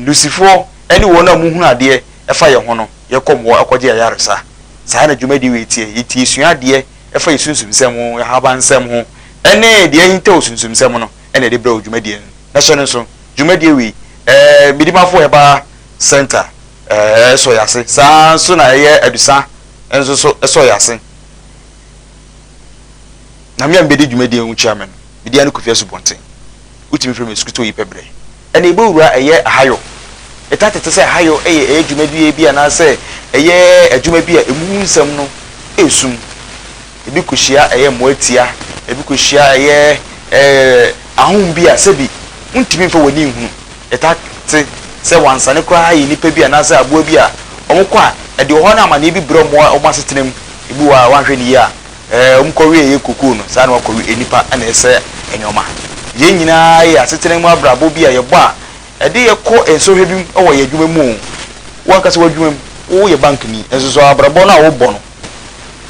Lusifoɔ ne wɔn a wɔhunu adeɛ fa yɛn ho no yɛ kɔm hɔ kɔgye ayaresa. Saa na dwumadie wei teɛ. Yɛti yɛsua adeɛ fa yɛn sunsumsɛm ho, yɛn ahabansɛm ho, ne deɛ ahintaw sunsumsɛm no na yɛde brɛ wo dwumadie no. Na hyɛ no nso, dwumadie wei, eh, Midimafoɔ Herbal Centre eh, sɔ yɛn ase. Saa ara nso na ɛyɛ Adusa nso so sɔ yɛn ase. Na me a mebɛdi dwumadie yi ho chairman no, Mede ano kofi asubɔnten. Wotumi frɛ me Asukuto Yi Pɛbrɛ. Ɛnna yebewura ɛyɛ ahayɔ. Ɛtaa tete sɛ ahayɔ yɛ ɛyɛ dwumadie bi anaasɛ ɛyɛ adwuma bi a emu ho nsɛm no yɛ sum. Ebi kɔhyia ɛyɛ mmoa tia, ebi kɔhyia ɛyɛ ahum bi a sɛbi wontumi mfa w'ani nhunu. Ɛtaa te sɛ wansane koraa yɛ nnipa bi anaasɛ aboa bi a wɔkɔ a, ɛde ɔhaw ne amanneɛ bi brɛ wɔn wɔ wɔn asetena mu. Ebi wɔ hɔ a, woanhwɛ no yie a, Ɛɛ, wɔkɔweɛ yɛ kokoo no, saa na wɔakɔwe nnipa na ɛsɛ nneɛma. Yɛn nyinaa yɛ asetena mu abrabɔ bi a yɛbɔ a ɛde yɛn kɔ nsɔhwɛ bi mu wɔ yɛn adwuma mu oo, wo ankasa w'adwuma mu, woyɛ bankni nso so a, abrabɔ no a wobɔ no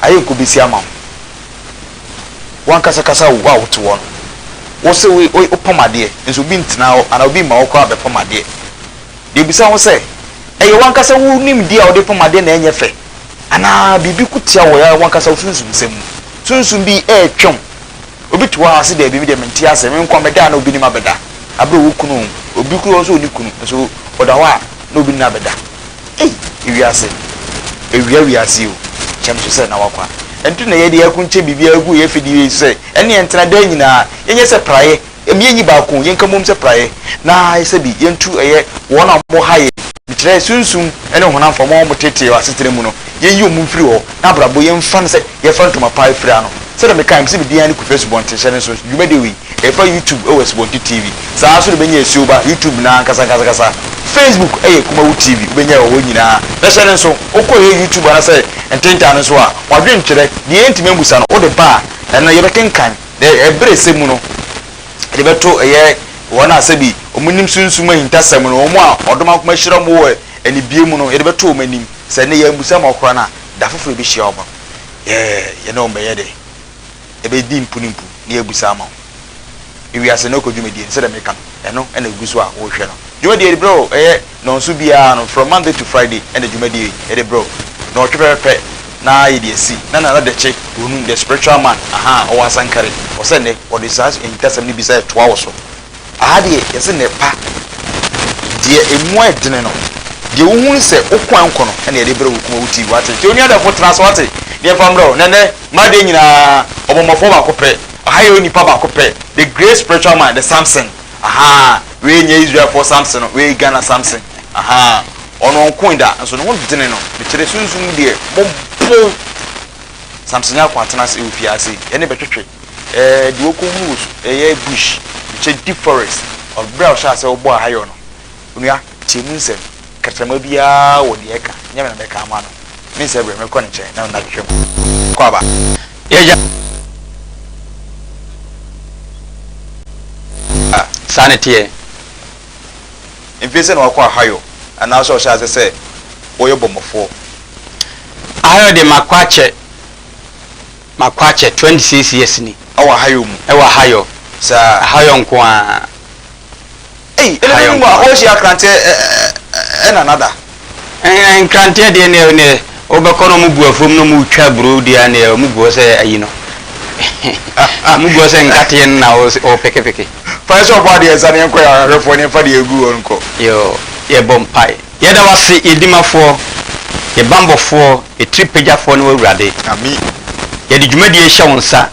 ayɛ nkobesi ama wo. Wo ankasa kasa oo, wo a wote hɔ no, wose wopam adeɛ nso obi ntena hɔ anaa obi mma wo koraa bɛpam adeɛ. Deɛ bisa ho sɛ, ɛyɛ wo ankasa wo nimdeɛ a wode pam adeɛ na ɛnyɛ fɛ? anaa biribi ko tia wo ara w'ankasa wo sunsum nsɛm mu. Sunsum bi retwɛn wo. Obi te hɔ ara se daabi me deɛ mente aseɛ, me nko mɛda anaa obi ne me abɛda. Aberɛ a ɔwɔ kunu o, obi koraa nso ɔnni kunu nso ɔda hɔ a na obi ne no abɛda. Ei! Ewiase! Awia wiase yi o, kyɛ me so sɛ na w'akwa. Ɛno nti na yɛde akunkyɛ biribiara gu yɛn afidie yi so sɛ ɛnneɛ ntena daa nyinaa yɛnyɛ sɛ praeɛ Ɛmi enyi baako, yɛnka mmom sɛ praeɛ, na ayɛ sɛ bi, yɛntu ɛyɛ wɔn a wɔha yɛn, mekyerɛ, sunsum ne honam fam, wɔn a wɔteetee wɔ asetena mu no, yɛnyi wɔn mfiri hɔ, na abrabɔ, yɛmfa no sɛ yɛfa ntoma pa afira ano. Sɛdeɛ mekaeɛ, mese me din ara ne Kofi Asubɔnten hyɛ ne nso nso, dwumadie wei, ɛfa YouTube wɔ Asubɔnten TV, saa ara nso na wobɛnya asuo ba, YouTube no ara ankasa ankasa ankasa, Facebook yɛ Kumawu TV, wobɛnya ɛwɔ hɔ nyina ara, na hyɛ ne nso, wokɔ ɛyɛ YouTube anasɛ Ntentan no nso a, wɔadwene twerɛ, deɛ yɛntumi ammusa no, wode ba a, ɛno no, yɛbɛkenkan. Na ɛberɛ ɛsɛ mu no de bɛto ɛyɛ wɔn a sɛbi wɔn nim sunsum ahintasɛm no, wɔn a ɔdom akoma ahyira wɔn wɔ anibue mu no, yɛde bɛto wɔn anim, sɛ ɛnnɛ yɛn ammusa ma wɔkora no a, da foforɔ yɛbɛhyia wɔn no, yɛ yɛne wɔn bɛyɛ dɛ? Yɛbɛdi mpu ne mpu na yɛabusa ama wɔn. Ewiase no rekɔ dwumadie no, sɛdeɛ meka no, ɛno na ɛgu so a worehwɛ no. Dwumadie no berɛ o, ɛyɛ. Nnɔnso biara no, from Monday to Friday na dwumadie yi yɛde brɛ wo. Nnɔɔtwe pɛpɛpɛ na yɛde asi. Na Nana Dɛkye Wonum, the spiritual man, ahaa, ɔwɔ Asankare. Ɔsɛ nnɛ ɔde saa ahintasɛm no bi sɛ toa wo so. Aha deɛ yɛse nnɛ pa. Deɛ ɛmu ayɛ dene no, deɛ wohu ne sɛ wo kwan nkɔ no na yɛde brɛ wo kuma wo ti. Wate? Nti onua dɛfo tena ase wate na yɛmfa mbrɛ wo. Na nnɛ mmaa deɛ nyinaa, ɔbɔmmɔfoɔ baako pɛ. Aha yɛwɔ nipa baako pɛ, the great spiritual man, the Samson. ahaa wei nyɛ Israel foɔ Samson no wei Ghana Samson ahaa ɔno ɔnko da nso ne ho dene no mekyerɛ sunsum mu deɛ mo bo Samson nyɛ akɔn atena ase ɛwɔ fie ase ɛne bɛtwetwe ɛɛ deɛ ɔkɔ hunu wɔ su ɛyɛ bush mekyɛ deep forest ɔbrɛ a ɔhyɛ asɛ ɔbɔ ahayɔ no onua tie mu nsɛm. Kakyerɛma biara wɔ deɛ ɛka, nyɛ me na mɛka ama no, me nsɛ berɛ, mɛkɔ ne nkyɛn na mema twetwe mu. Kɔ aba. Yɛ gya a, saa na ɛteɛ. Mfeɛ sɛ na wakɔ Ahayɔ anaa sɛ ɔhyɛ aseɛ sɛ ɔyɛ bɔmmɔfoɔ? Ahayɔ deɛ makɔ akyɛ, makɔ akyɛ, 26 years ni. Ɛwɔ Ahayɔ mu? Ɛwɔ Ahayɔ. Saa. Ahayɔ nko ara. Ei ɛne ne nwa wo hyia kranteɛ na nada. Nkranteɛ deɛ neɛ neɛ wo bɛ kɔ na ɔmo bu afuom na ɔmo twa aburo deɛ a neɛ ɔmo gu hɔ sɛ ayi no ɔmo gu hɔ sɛ nkateɛ no na wo peke peke. Fa yɛ sɛ ɔbɔ adeɛ nsa na yɛnkɔ yɛ ahwɛfoɔ na yɛnfa deɛ ɛgu hɔ no nkɔ. Yoo yɛbɔ mpae. Yɛda wo ase, yɛn Dimafoɔ, yɛn Banbɔfoɔ, yɛn Tiripagyafoɔ ne w'Awurade. Yɛde dwumadie yi hyɛ wo nsa.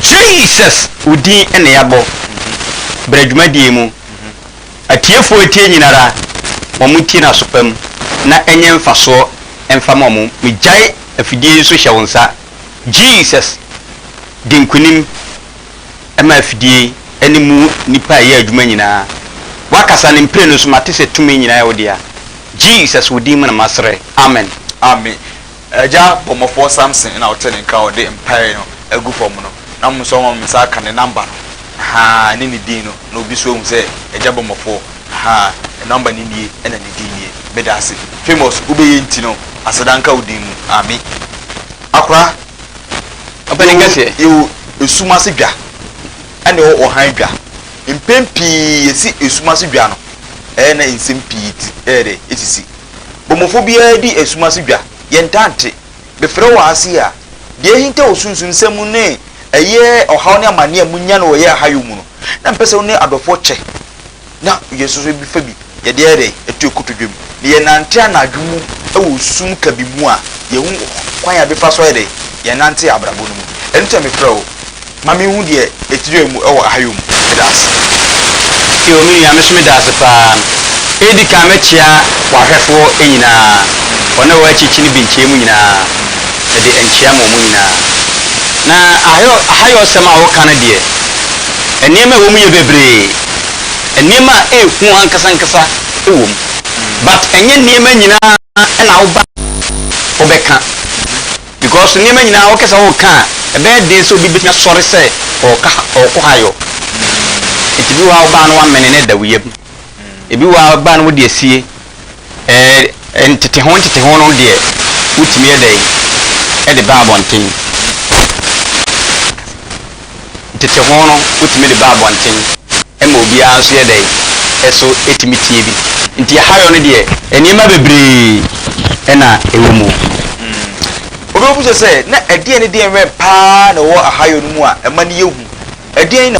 Jesus wo din na yɛabɔ. Bra dwumadie yi mu. Atiefoɔ retie nyinara, ma wɔn ntie no asopa mu na ɛnyɛ mfasoɔ mfa ma wɔn. Megyae afidie yi nso hyɛ wo nsa. Jesus, di nkunim. ɛma afidie yi ne mu nnipa a ɛyɛ adwuma nyinaa. W'akasa ne mprenu nso mate sɛ tumi nyinaa yɛ wo dea. Jesus wo din mu na masrɛ. Amen. Amen Agya bɔmmɔfoɔ Samson ɛna ɔte ne nka a ɔde mpaeɛ no agu fam no na mo nso ɔma me nsa aka ne number no ahaa ne ne din no na obi nso ahu sɛ Agya bɔmmɔfoɔ ahaa ne number no nie ɛna ne din nie medaase famous wobɛyɛ nti no aseda nka wo din mu Amen Akora Ɔpanyin kɛseɛ. Yɛwɔ esum ase dwa ɛna ɛwɔ ɔhan dwa. Mpɛn pii yɛsi esum ase dwa no ɛyɛ na nsɛm pii ti ɛyɛ dɛ esisi. Bɔmmɔfoɔ biara di esum ase dwa. Yɛntaa nte. Mefrɛ wo ase a, deɛ ahinta wɔ sunsumsɛm mu ne ɛyɛ ɔhaw ne amaneɛ a monya no wɔ ɛyɛ ahayɔ mu no, na mepɛ sɛ wo ne adɔfoɔ kyɛ. na yɛsosɔ bi fa bi, yɛde ayɛ dɛn? Yɛto yɛn kotodwe mu. Na yɛnante anadwo mu wɔ sum kabii mu a, yɛhu kwan a yɛbɛfa so ayɛ dɛn? Yɛnante abrabɔ no mu. Ɛno nti na mefrɛɛ wo ma menhu deɛ ɛtire mu wɔ ahayɔ mu. Meda ase. Eo, me nua, me nso meda ase paa. Edi kan mɛkyea w'ahwɛfoɔ nyinaa, wɔn a ɛwɔ akyirikyiri ne binkyɛɛ mu nyinaa, mede nkyea ma wɔn nyinaa. Na ahayɔ, ahayɔsɛm a woka no deɛ, nneɛma a ɛwɔ mu yɛ bebree. Nneɛma a ɛyɛ hu ankasa ankasa wom but ɛnyɛ nneɛma nyinaa na woba wobɛka because nneɛma nyinaa wokɛ sɛ woka a ɛbɛyɛ den sɛ obi bɛtumi asɔre sɛ ɔɔka ɔɔkɔ ha yɔ nti bi wɔ hɔ a wobaa no woamene no da wo yam ebi wɔ hɔ a wobaa no wode asie Ɛɛ, nteteho nteteho no deɛ, wotumi yɛ dɛn de ba abɔnten? Nteteho no, wotumi de ba abɔnten ma obiara nso yɛ dɛn, nso tumi tie bi. Nti ahayɔ no deɛ, nneɛma bebree na ɛwɔ mu. Obi bɛbisa sɛ, na ɛdeɛn ne deɛn wɛn pa ara na ɛwɔ ahayɔ no mu a ɛma no yɛ hu? Ɛdeɛn na.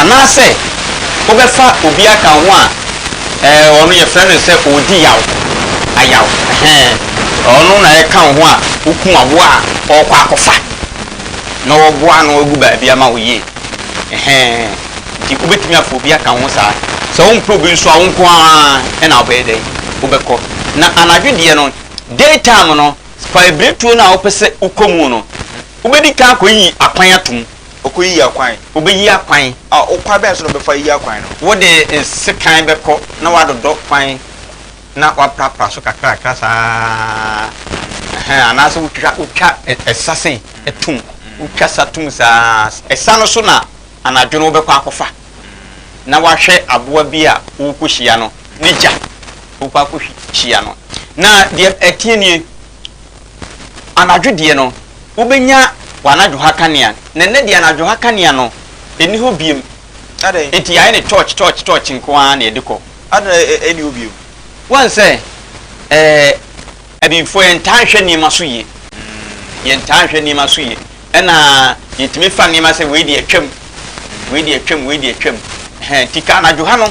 Anaasɛ wobɛfa obi aka wo ho a ɛɛ ɔno yɛfrɛ no sɛ ɔredi yaw, ayaw, ɛhɛn, ɔno na ɛka wo ho a wokum aboa a ɔrekɔ akɔfa na wɔboa ano agu baabi ama wo yie, ɛhɛn, nti wobɛtumi afa obi aka wo ho saa. Sɛ wompɛ obi nso a, wo nko ara na wobɛyɛ dɛn? Wobɛkɔ. Na anadwo deɛ no, day time no, fa abiretuo no a wopɛ sɛ wokɔ mu no, wobɛdi kan akɔyi akwan atom. Ɔkɔyiyi akwan. Ɔbɛyiyi akwan. A Ɔkwan bɛn so na ɔbɛfa ayiyi akwan no? Wode nsekan bɛkɔ na woadodɔ kwan na woaprapra so kakrakra saa ara, ɛhɛn, anaasɛ wotwa, wotwa ɛsa sei tom, wotwa sa tom saa ara. Ɛsa no so na anadwo no wobɛkɔ akɔfa na woahwɛ aboa bi a worekɔhyia no ne gya, wokɔ akɔhyia no. Na deɛ ɛteɛ nie. Anadwo deɛ no, wobɛnya w'anadwoha kanea, na nnɛ deɛ anadwoha kanea no nni hɔ bio. Enti yɛayɛ no tɔɔkye, tɔɔkye, tɔɔkye nko ara na yɛde kɔ. Adɛn na ɛnni hɔ bio? Woahu sɛ, ɛɛ, Abibifoɔ, yɛntaa nhwɛ nneɛma so yie. Yɛntaa nhwɛ nneɛma so yie. Ɛna yɛtumi fa nneɛma sɛ wei deɛ atwam, wei deɛ atwam, wei deɛ atwam. Ɛhɛn, nti ka anadwo ha no,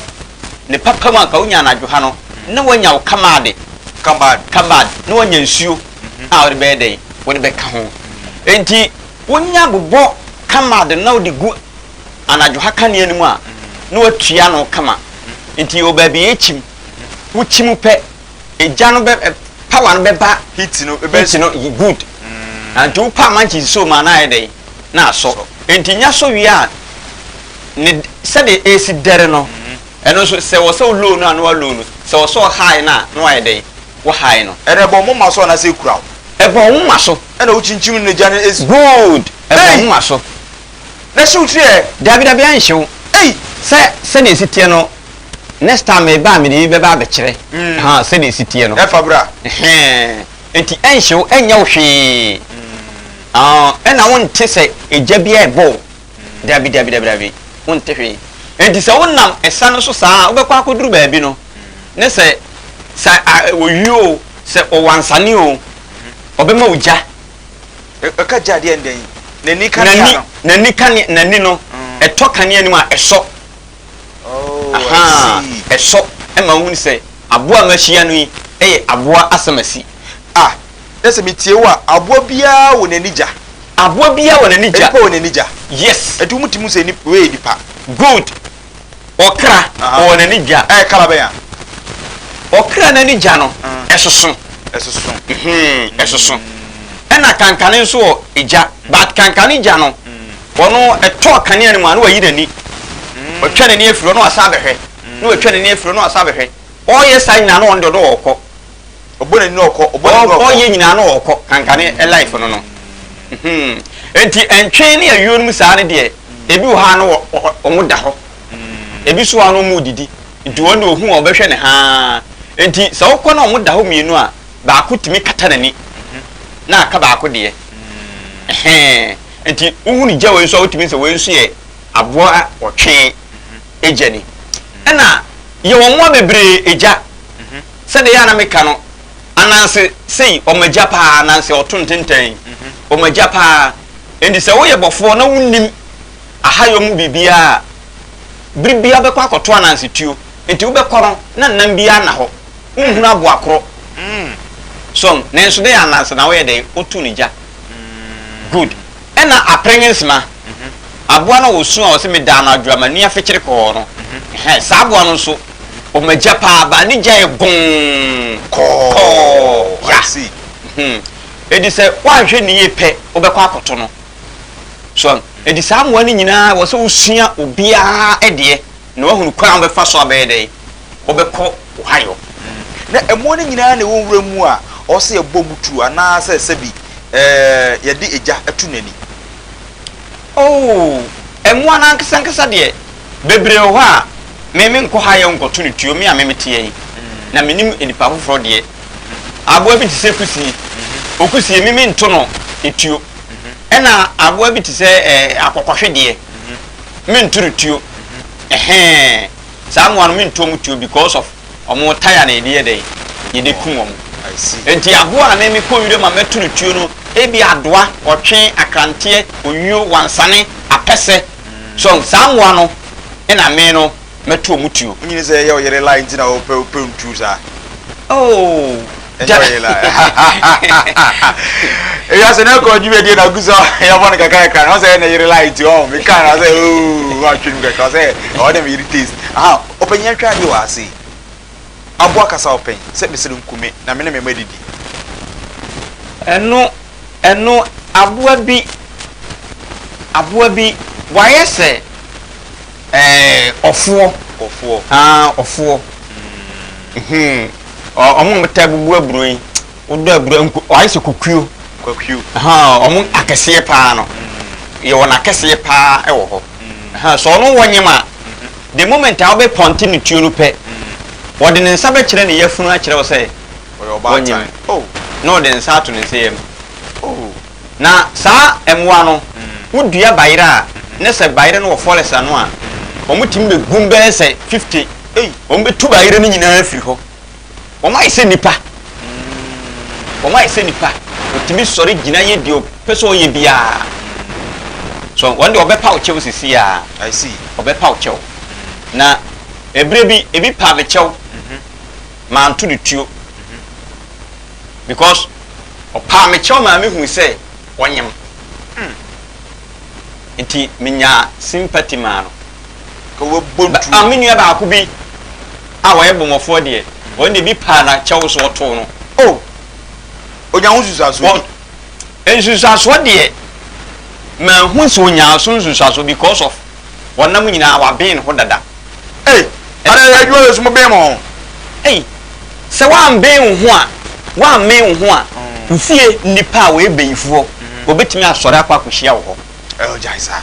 ne papa mu a, ka wonya anadwo ha no, na woanya wo kamaade, Kabad. kabad, na woanya nsuo a wode bɛyɛ dɛn? Wode bɛka ho. Enti wonya bobɔ kamaad no na wode gu anadwo ha kanea no mu a, na woatua ano kama. Nti ɔbaa bi yɛkyim, wokyim pɛ, Egya no bɛ ɛ power no bɛba Heat no bɛ heat no y good na nti wo pa mankyes nsuo mu a na ayɛ dɛn? Na asɔ. Sɔ. Nti nya sɔ wie a ne d sɛdeɛ ɛresi dɛre no ɛno nso sɛ wɔ sɛ wo low no a na wa low no, sɛ wɔ sɛ ɔ high no a na wayɛ dɛn? Wa high no. Ɛna ɛbɔ wo moma so anaasɛ ɛkura wo? Ɛbɔ wo moma so. Ɛna wo kyinkyim no na egya no ɛsi. Good! Ɛbɔ wo Ei! moma so. Na ɛhye wo tiri ɛ? Dabi dabi ɛnhye wo. Ei! Sɛ sɛdeɛ ɛsi teɛ no. Next time me ba a mede bi bɛba abɛkyerɛ ha sɛdeɛ ɛsi teɛ no. Ɛfa bra. Nti ɛnhye wo, ɛnyɛ wo hwee. Ɛna wonte sɛ egya bi a ɛbɔ wo. Dabi dabi dabi dabi, wonte hwee. Nti sɛ wonam ɛsa no so saa a, wobɛkɔ akɔduru baabi no, ne sɛ sɛ ɔyuo o, sɛ ɔwansane o, ɔbɛma wo gya. Ɛka gya deɛ ndɛn? N'ani kanea no? N'ani kanea, n'ani no, ɛtɔ kanea no mu a, ɛsɔ. Ahaa, ɛsɔ ma wohunu sɛ aboa a mahyia no yi yɛ aboa asamasi. A, na sɛ metie wo a, aboa biara wɔ n'ani gya. Aboa biara wɔ n'ani gya. Nnipa wɔ n'ani gya. Yes. Ɛnti wo mutumi hu sɛ nip, wei yɛ nipa. Good. Ɔkra wɔ n'ani gya. Ɛyɛ kala bɛn a? Ɔkra n'ani gya no, ɛsoso. Ɛsoso. Ɛsoso. Ɛna kankane nso wɔ gya, but kankane gya no, Wɔ no tɔ kanea no mu a, na wayi n'ani. Watwa n'ani afiri hɔ na wasan abɛhwɛ, na watwa n'ani afiri hɔ na wasan abɛhwɛ. Ɔreyɛ saa nyinaa na ɔno deɛ ɔno ɔrekɔ. Ɔbɔ n'ani na ɔkɔ, ɔbɔ n'ani na ɔkɔ. Ɔreyɛ nyinaa na ɔrekɔ. Kanka ne life no no. Enti ntwee ne ayuo no mu saa no deɛ, ebi wɔ hɔ a na wɔda hɔ. Ebi nso wɔ hɔ a na wɔredidi. Nti wɔn deɛ ɔhu a ɔbɛhwɛ no haa. Enti sɛ wokɔ na wɔda hɔ mmienu a, baako tumi kata n'ani na aka baako deɛ. Ɛhɛɛ. Nti wohu ne gya wei nso a wotumi sɛ wei nso yɛ aboa a ɔtwe egya ni. Ɛna yɛwɔ mmoa bebree egya. Sɛdeɛ yɛ a na meka no, ananse sei wɔn agya paa, ananse ɔto ntentɛn, wɔn agya paa. Nti sɛ woyɛ bɔfoɔ na wonim ahayɔ mu biribiara a, bere biara wobɛkɔ akɔto ananse tuo. Nti wobɛkɔ no na nam biara nna hɔ. Wonhunu aboa koro. So nanso dɛn anansa na woyɛ dɛn wotu no gya. Good. Ɛna apren nsema. Aboa no a ɔsu a ɔse medaa no adwo a m'ani afekyere kɔɔ no, ɛhɛn, saa aboa no nso ɔma agya paa baa ne gyae boo kɔɔ. Ya. Hmm. Edi sɛ woanhwɛ no yie pɛ wobɛkɔ akɔto no. So ahu? Edi saa mmoa no nyinaa wɔ sɛ wosua obiara deɛ na woahunu kwan a wobɛfa so abɛyɛ dɛn wɔbɛkɔ Ohio, na mmoa no nyinaa na ɛwɔ nwura mu a ɔwɔ sɛ yɛbɔ mu tuo anaasɛ sɛbi yɛde egya to n'ani. Oo, mmoa no ankesankesa deɛ, bebree wɔ hɔ a me menkɔ Ohio nkɔto no tuo, me a me meteɛ yi, na menim nnipa afoforɔ deɛ. Aboa bi te sɛ kusie, okusie, me mento no tuo. Ɛna aboa bi te sɛ akɔkɔhwe deɛ, mento no tuo. Ɛhɛɛ. saa mmoa no mentɔ mu tuo because of ɔmo taya na yɛde yɛ dɛn yɛde kum ɔmo nti aboa a me mekɔ nwura ma mɛto no tuo no ebi adoa ɔtwe akranteɛ onyuo wansane apɛsɛ so saa mmoa no ɛna me no mɛto ɔmo tuo. Wonyini sɛ ɛyɛ ɔyere lie nti na ɔpɛ ɔpɛ ntuo saa. Oh. ewiase no ɛkɔ dwumadie na gu sɛ yɛbɔ no kakra kakra na ɔsɛ yɛ na yere la nti ɔ meka na sɛ oo atwe no kakra sɛ ɛwɔ dɛ meyere taste aha ɔpanyin atwa adeɛ wɔ ase aboa kasa ɔpɛn sɛ mesere nkume na me ne me mma didi ɛno ɛno aboa bi aboa bi wayɛ sɛ ɛɛ ɔfoɔ ɔfoɔ aa ɔfoɔ hmm. Ɔ ɔmo na ɔtaa bubu aburo yi. Wodɔ aburo a nku ayɛ sɛ kokuo. Kokuo. Ahaa ɔmo akɛseɛ paa no. Yɛwɔ no akɛseɛ paa ɛwɔ hɔ. Ahaa sɛ ɔno wɔnyem a, the moment a wobɛ pɔnte ne tuo no pɛ, ɔde ne nsa bɛkyerɛ ne yafunu akyerɛ wo sɛ wɔnyem. Na ɔde nsa ato ne nsɛyam. Na saa mmoa no wo dua bayerɛ a ne sɛ bayerɛ no wɔ forest ano a wɔn tumi bɛ gum bɛyɛ sɛ fifty wɔn bɛ tu bayerɛ no nyinaa afiri hɔ wɔn ayɛ sɛ nipa wɔn ayɛ sɛ nipa wɔtumi sɔre gyina yɛ deɛ ɔpɛ sɛ ɔyɛ biara so wɔn deɛ ɔbɛ pa ɔkyɛw sisi ya ɔbɛ pa ɔkyɛw na ebire bi ebi pa me kyɛw maa nto de tuo. because ɔpaa me kyɛw maa mihui sɛ ɔnyem nti menyaa sympathy maa no. Ka wabɔ ntuo. Ba me nua baako bi a ɔyɛ bɔmmɔfoɔ deɛ, ɔno deɛ ebi paa n'akyɛw so ɔtoo no. Oh! Ɔnya ho nsusuasoɔ bi? Nsusuasoɔ deɛ, manhu sɛ ɔnyaa so nsusuasoɔ because of Wɔnam wo nyinaa wɔaben ho dada. Ei, ɛnnɛ yɛ adwuma Yesu mo ben mo ho. Ei, sɛ woamben wo ho a, woammen wo ho a, nsie nnipa a wɔyɛ bayifoɔ, wɔbɛtumi asɔre akɔ akɔhyia wo hɔ. Ei, gyae saa.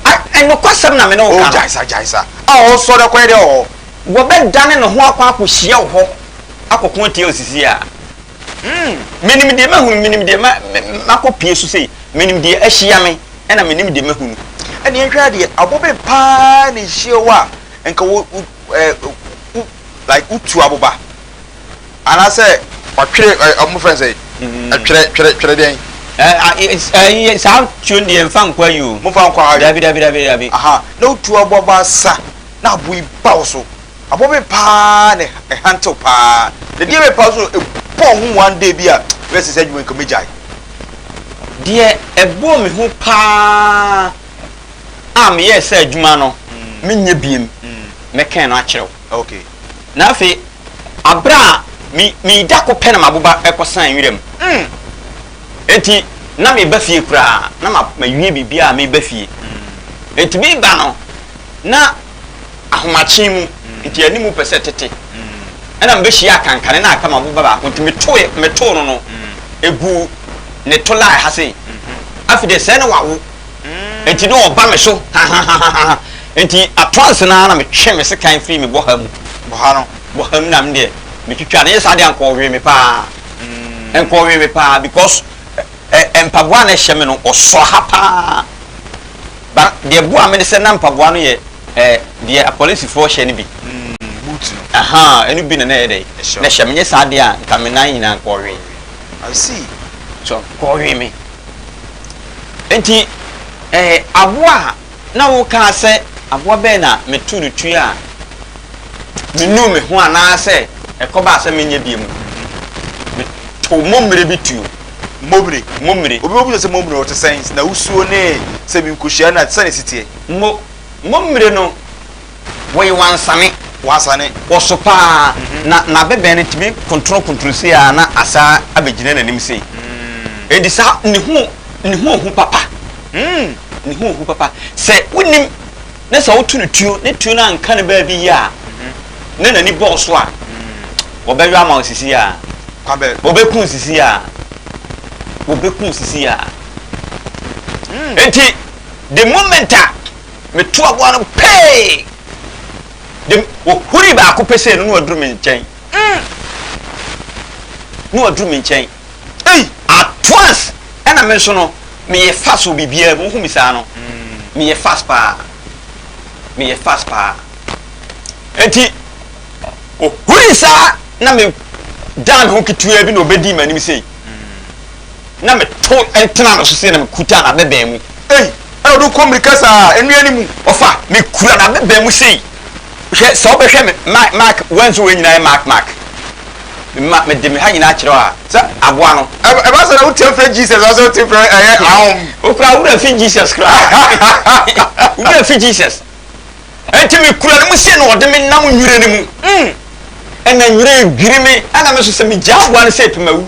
Ai, nokwasɛm na me ne wo ka no. Oh, gyae saa, gyae saa. A ɔresɔre akɔyɛ dɛn wɔ hɔ? Wɔbɛdane ne ho akɔ akɔhyia wo hɔ akɔko atia wo sisi a. Mm, menim deɛ mahunu, menim deɛ ma, makɔ pie so sei, menim deɛ ahyia me, ɛna menim deɛ mahunu. Ɛna yɛnhwɛ adeɛ, abobe paa na ɛhyia wo a, nka wo, wo, eh, wo, like wotu aboba. Anaasɛ. Ɔtwere, ɛ, ɔmo fɛn sɛ, ɛtwerɛ, mm. twerɛ, twerɛ deɛn? Ɛɛ, saa tuo deɛ mfa nkɔ ayi o. Mo fa nkɔ ayi. Dabi, dabi, dabi, dabi. Aha, na wotu aboba sa, na aboyi ba wo so. Abɔ me paa na ɛhantew paa na deɛ ɛbɛpaw so no ɛbɔɔ ho one day bi a mehwɛ sɛ saa adwuma yi nka mɛgyae. Deɛ ɛbɔɔ me hu paa a meyɛɛ saa adwuma no menyɛ biom mɛkɛn no akyerɛ wo. Okay. Na afei aberɛ a me meda ko pɛ na maboba ɛkɔ san nwiram enti na meba fie koraa na ma mawie biribiara a meba fie enti meba no na ahomakye mu, nti yɛne mu pɛ sɛ tete. Ɛna mebɛhyiaa kankane na aka m'aboba baako, nti metoe, metoo no no, ɛguu ne to line ha sei. Afei deɛ sɛɛ na wawo, nti na ɔba me so hahahahaha, nti at once no ara na metwe me sekan firi me bɔha mu, bɔha no, bɔha mu na me deɛ metwitwaa no, ɛnyɛ saa deɛ a nka ɔwee me paa, nka ɔwee me paa because. Ɛ mpaboa a na ɛhyɛ me no, ɔsɔ ha pa ara. Ba deɛ ɛboaa me ne sɛ na mpaboa no yɛ ɛ deɛ apolisifoɔ hyɛ no bi. Mm, boot no. Ahaa, ɛno bi na na ɛyɛ dɛn? Ɛhyɛ Na wo. hyɛ me, nyɛ saa deɛ a, nka me nan nyinaa nkɔɔwee. Ɔwee. I see. So, nkɔɔwee me. Enti, ɛ aboa a. na wokaa sɛ aboa bɛn na meto no tui a menuu me ho anaasɛ ɛkɔbaa sɛ menyɛ bio mu no, metoo mommere bi tuo. Mommere. Mommere. Obi bɛbisa sɛ, Mommere no te sɛn? N'ahosuo ne sɛ bi nkohyia na te sɛn na ɛsi teɛ? Mo, mommere no. Wɔye wansane. Wansane. Wɔ so paa. Na n'abɛbɛn no tumi kontrokontro sei ara na asan abɛgyina n'anim sei. Enti saa ne ho ne ho hu papa. Ne ho hu papa. Sɛ wonnim na sɛ woto no tuo ne tuo no anka no baabi yie a na n'ani bɔ wo so a, wɔbɛyɔ ama wo sisi a. Kwabɛ. Wɔbɛku wo sisi a. Wɔbɛku wo sisi a. Enti the moment a Metu aboa no pee! De wɔhuri baako pesee no na waduru me nkyɛn. Mm! Na waduru me nkyɛn. Ei! At once! Ɛna me nso no, meyɛ fast wɔ biribiara mu. Wohu me saa no? Mm. Meyɛ fast paa. Meyɛ fast paa. Enti, ɔhuri saa na me dan me ho ketewa bi na ɔbɛdii m'anim sei. na metow tenaa no so sɛ na mekuta n'abɛbɛn mu. Ei, ɛna ɔde kɔ mmirika saa, nnua no mu, ɔfa, mekura n'abɛbɛn mu sei. Hwɛ, sɛ wobɛhwɛ me, Mark, Mark, wɔanso wei nyinaa yɛ Mark, Mark. Mema, mede me ha nyinaa kyerɛ a, sɛ aboa no. Ɛba sɛ na wote mfrɛ Jesus, ɔsɛ wote mfrɛ ɛyɛ ahom. Okura wura fi Jesus koraa. Wura fi Jesus. Enti mekura no mu sei na ɔde me nam nwura no mu. Mm. Ɛna nwura dwiri me, ɛna me nso sɛ megyaa aboa no sɛ epimawu.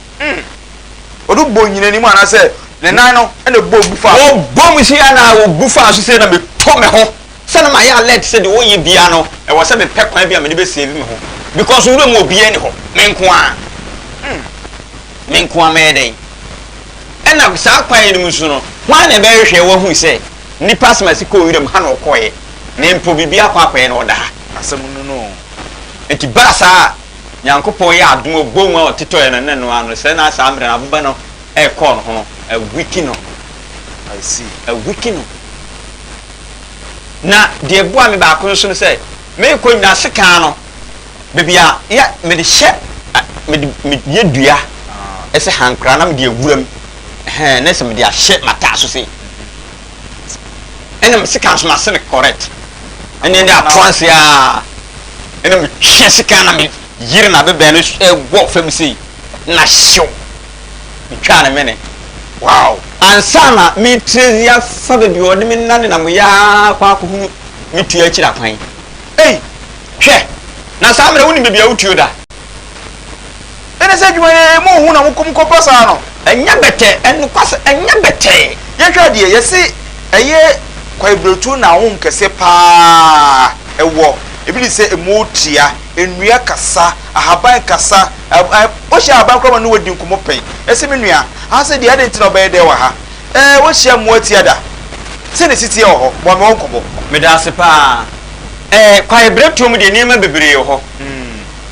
Mm. Wɔde bɔ onyina anim anaasɛ ne nan no na ɛbɔ gu fa so. Wɔbɔ mu sei anaa wɔgu fa so sei na meto me ho sɛ na mayɛ alert sɛ deɛ wɔyɛ biara no ɛwɔ sɛ mepɛ kwan bi a mede bɛ save me ho because nwura mu obiara nni hɔ me nko ara mm. me nko ara mɛyɛ dɛn ɛna saa kwan yi no mu so no hwan na ɛbɛhwehwɛ wɔahu sɛ nipa asɛm asi kɔɔ nwura mu ha na ɔkɔeɛ na mpo biribi akɔ akɔeɛ na ɔda ha asɛm no no nti baa saa Nyankopɔn yɛ adom a boom a ɔtotɔɛ no ne no ara no, sɛ na saa mmerɛ no abobɛ no rekɔɔ no ho no, a weaken no. I see. A weaken no. Na deɛ ɛboaa me baako nso no sɛ, merekɔ nyinaa sekan no, baabi a yɛ, mede hyɛ, mede, mede yɛ dua, ɛsɛ hankra na mede awura mu, ɛhɛn, na ɛsɛ mede ahyɛ m'ataaso sei. ɛna me sika nso mase no correct ɛne ɛde atoa nse a ɛna metwe sika na me yere na bɛbɛn no ɛwɔ fam sei na hyew metwaa ne mene wow ansa na metirezi afa baabi ɔde me nane na meyɛ akɔ akɔhunu metua akyiri akwan ei hwɛ na saa mmerɛ wonim baabi a wotuo da Ɛne sɛ adwuma no emu hu na mokum kɔpa saa no. Ɛnyɛ bɛtɛɛ, nokwasɛ ɛnyɛ bɛtɛɛ. Yɛnhwɛ adeɛ, yɛse ɛyɛ kwaebiretuo na ahonhom kɛseɛ pa ara ɛwɔ, ebi de sɛ emu tia, nnua kasa, ahaban kasa, wohyia ahaban koraa ma ne wadi nkɔmmɔ pɛn, ɛse me nua, ha se deɛ adɛn nti na ɔbɛyɛ dɛɛ wɔ ha? Ɛɛ woahyia mmoa tia da? Sɛ na ɛsi teɛ wɔ hɔ? Boa me wɔ nkɔmmɔ. Medaase pa ara. Ɛɛ kwaebiretuo mu deɛ nneɛma bebree wɔ hɔ.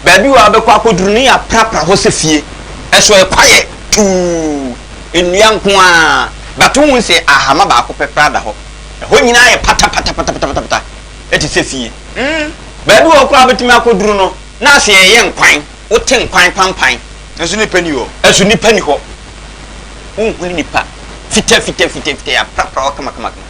Baabi wɔ a bɛkɔ akɔduru no yɛ aprapra hɔ sɛ fie, ɛso yɛ kwaeɛ tuu, nnua nko ara, but wohu sɛ ahama baako pɛ koraa da hɔ. Ɛhɔ nyinaa yɛ patapatapatapatapata, ɛte sɛ fie. Baabi wɔ hɔ koraa a wobɛtumi akɔduru no, na ase yɛyɛ nkwan, wote nkwan pampan. Nanso nnipa nni hɔ. Nanso nnipa nni hɔ. Wonhunu nnipa. Fitafitafitafita, yɛaprapra hɔ kamakamakama.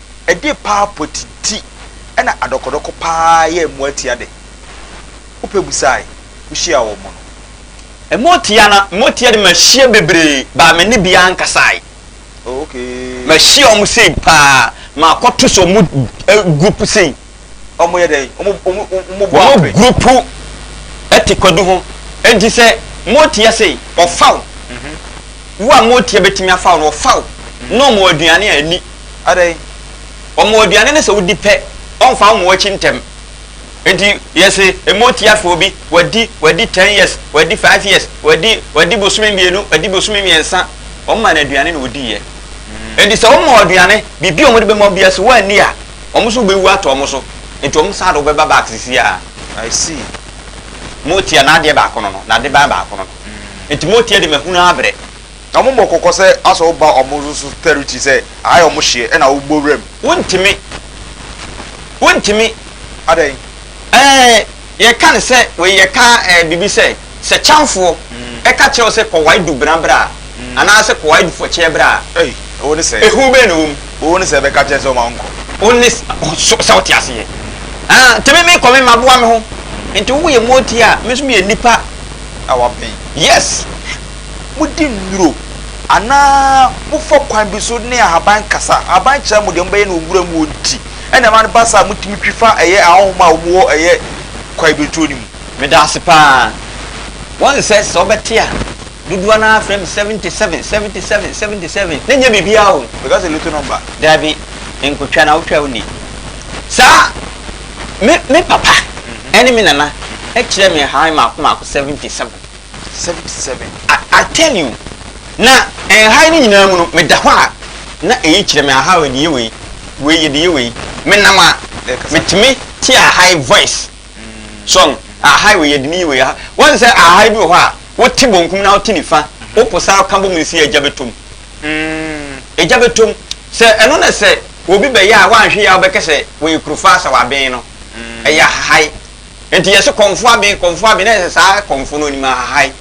Ɛdeɛ paa pɔti ti ɛna adɔkɔdɔkɔ paa yɛ mmoa tia dɛ? Wopɛ busae wohyia wɔn no. Mmoa tia na mmoa tia de mahyia bebree baa me ne biaa nkasae. Oh okay. Mahyia wɔn sei paa makɔ to so wɔn group sei. Wɔn gurupu te kwadu ho, enti sɛ moteɛ sei, wɔfa wo. Wo a moteɛ bɛtumi afa wo no, wɔfa wo, na wɔma wo aduane a ɛnni. Wɔma wo aduane no sɛ wodi pɛ, wɔmfa wo mma wɔn akyi ntɛm. Enti yɛse moteɛ afa obi, wadi, wadi ten years, wadi five years, wadi, wadi bosome mmienu, wadi bosome mmiɛnsa, wɔmaa no aduane na ɔdiiɛ. Enti sɛ woma wo aduane, biribi a wɔde bɛma wo biara, sɛ woanni a, Wɔn nso wobɛwu ato wɔn so. Nti wɔn saa de wobɛba back sisi a. I see. Motia n'adeɛ baako no no, n'adeban baako no no. Mm. Nti Motia de mahunu abrɛ. Na wɔn bɔ kɔkɔ sɛ asɛ woba wɔn nso so territory sɛ aha yɛ wɔn hyeɛ ɛna wobɔ wura mu. Wontumi. Wontumi. Adɛn? Ɛɛ yɛka no sɛ wei yɛka ɛɛ biribi sɛ. Sɛ Kyamfoɔ ka kyerɛ wo sɛ kɔ wae du bena bra anaa sɛ kɔ wae du fɔkyeɛ bra a, ehu bɛn na ɛwɔ mu? Wo ne sɛ bɛka kyerɛ sɛ ɔma wo nkɔ. Wo ne sɛ, sɛ wote aseɛ? Haa, nti me mekɔ me maboa me ho. Nti wo yɛ mooti a, me nso meyɛ nnipa. A wapen. Yes. Mo di nnuro anaa mo fa kwan bi so ne ahaban kasa. Ahaban kyerɛ mo deɛ mo bɛyɛ no wɔ nwura mu wɔ nti ɛna ɛma no ba saa a mo tumi twi fa ɛyɛ ahɔhoma a wɔn wɔ ɛyɛ kwaebirituro no mu. Meda ase paa. Wɔn sɛ sɛ wobɛte a dodoɔ naa frɛ me 77 77 77 na nyɛ biribiaa o. Because a lotto number. Daabi nkotwa na wotwa woni saa me me papa ɛne me nana ɛkyerɛ me nhahan maako maako 77. 77. I I tell you na nhan no nyinaa mu no meda hɔ a na ɛyi kyerɛ me ahaa yɛde yɛ wei wei yɛde yɛ wei menam a metumi te ahaa voice. so no ahai wei yɛde ne yi wei aha wɔn sɛ ahai bi wɔ hɔ a wote bonkum na wote nifa wopo saa ka bɔ mu si agya bɛtom agya bɛtom sɛ ɛno na sɛ obi bɛyɛ a woanhwe yɛ a wobɛkɛ sɛ wɔyɛ kurofa sɛ waben no ɛyɛ ahai nti yɛse kɔmfo aben kɔmfo aben na yɛsɛ saa kɔmfo no onim ahai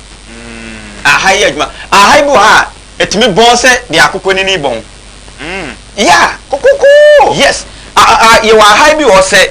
ahai yɛ adwuma ahai bi wɔ hɔ a ɛtumi bɔn sɛ deɛ akokɔ nini bɔn ya kokoko yes yɛwɔ ahai bi wɔ sɛ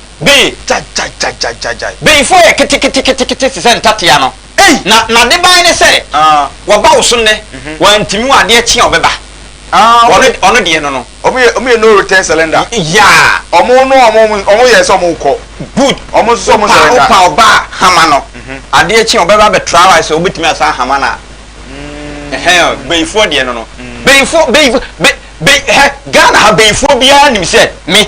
Beyi. Gyagyagyagyagyae. Beyifoɔ yɛ keteketekete te sɛ ntatea no. Ei! Na n'adeban ne sɛ. Aa. Wɔba wo so nnɛ, wɔantumi wo adeɛ kye a wɔbɛba. Aa, wɔn. Wɔn, wɔn deɛ no no. Wɔn yɛ, wɔn yɛ no return surrender. Yaa. Wɔn no, wɔn, wɔn, wɔn yɛ sɛ wɔn rekɔ. Good. Wɔn nso sɛ wɔn Wopa, surrender. wopa ɔba a, hama no, adeɛ kye a wɔbɛba abɛtra wo ayɛ sɛ wɔbɛtumi asan ahama no a. Ɛhɛn o, Beyifoɔ deɛ no no. Beyifoɔ, Beyifoɔ, Be, Be, hɛ, Ghana ha Beyifoɔ biara nim sɛ me.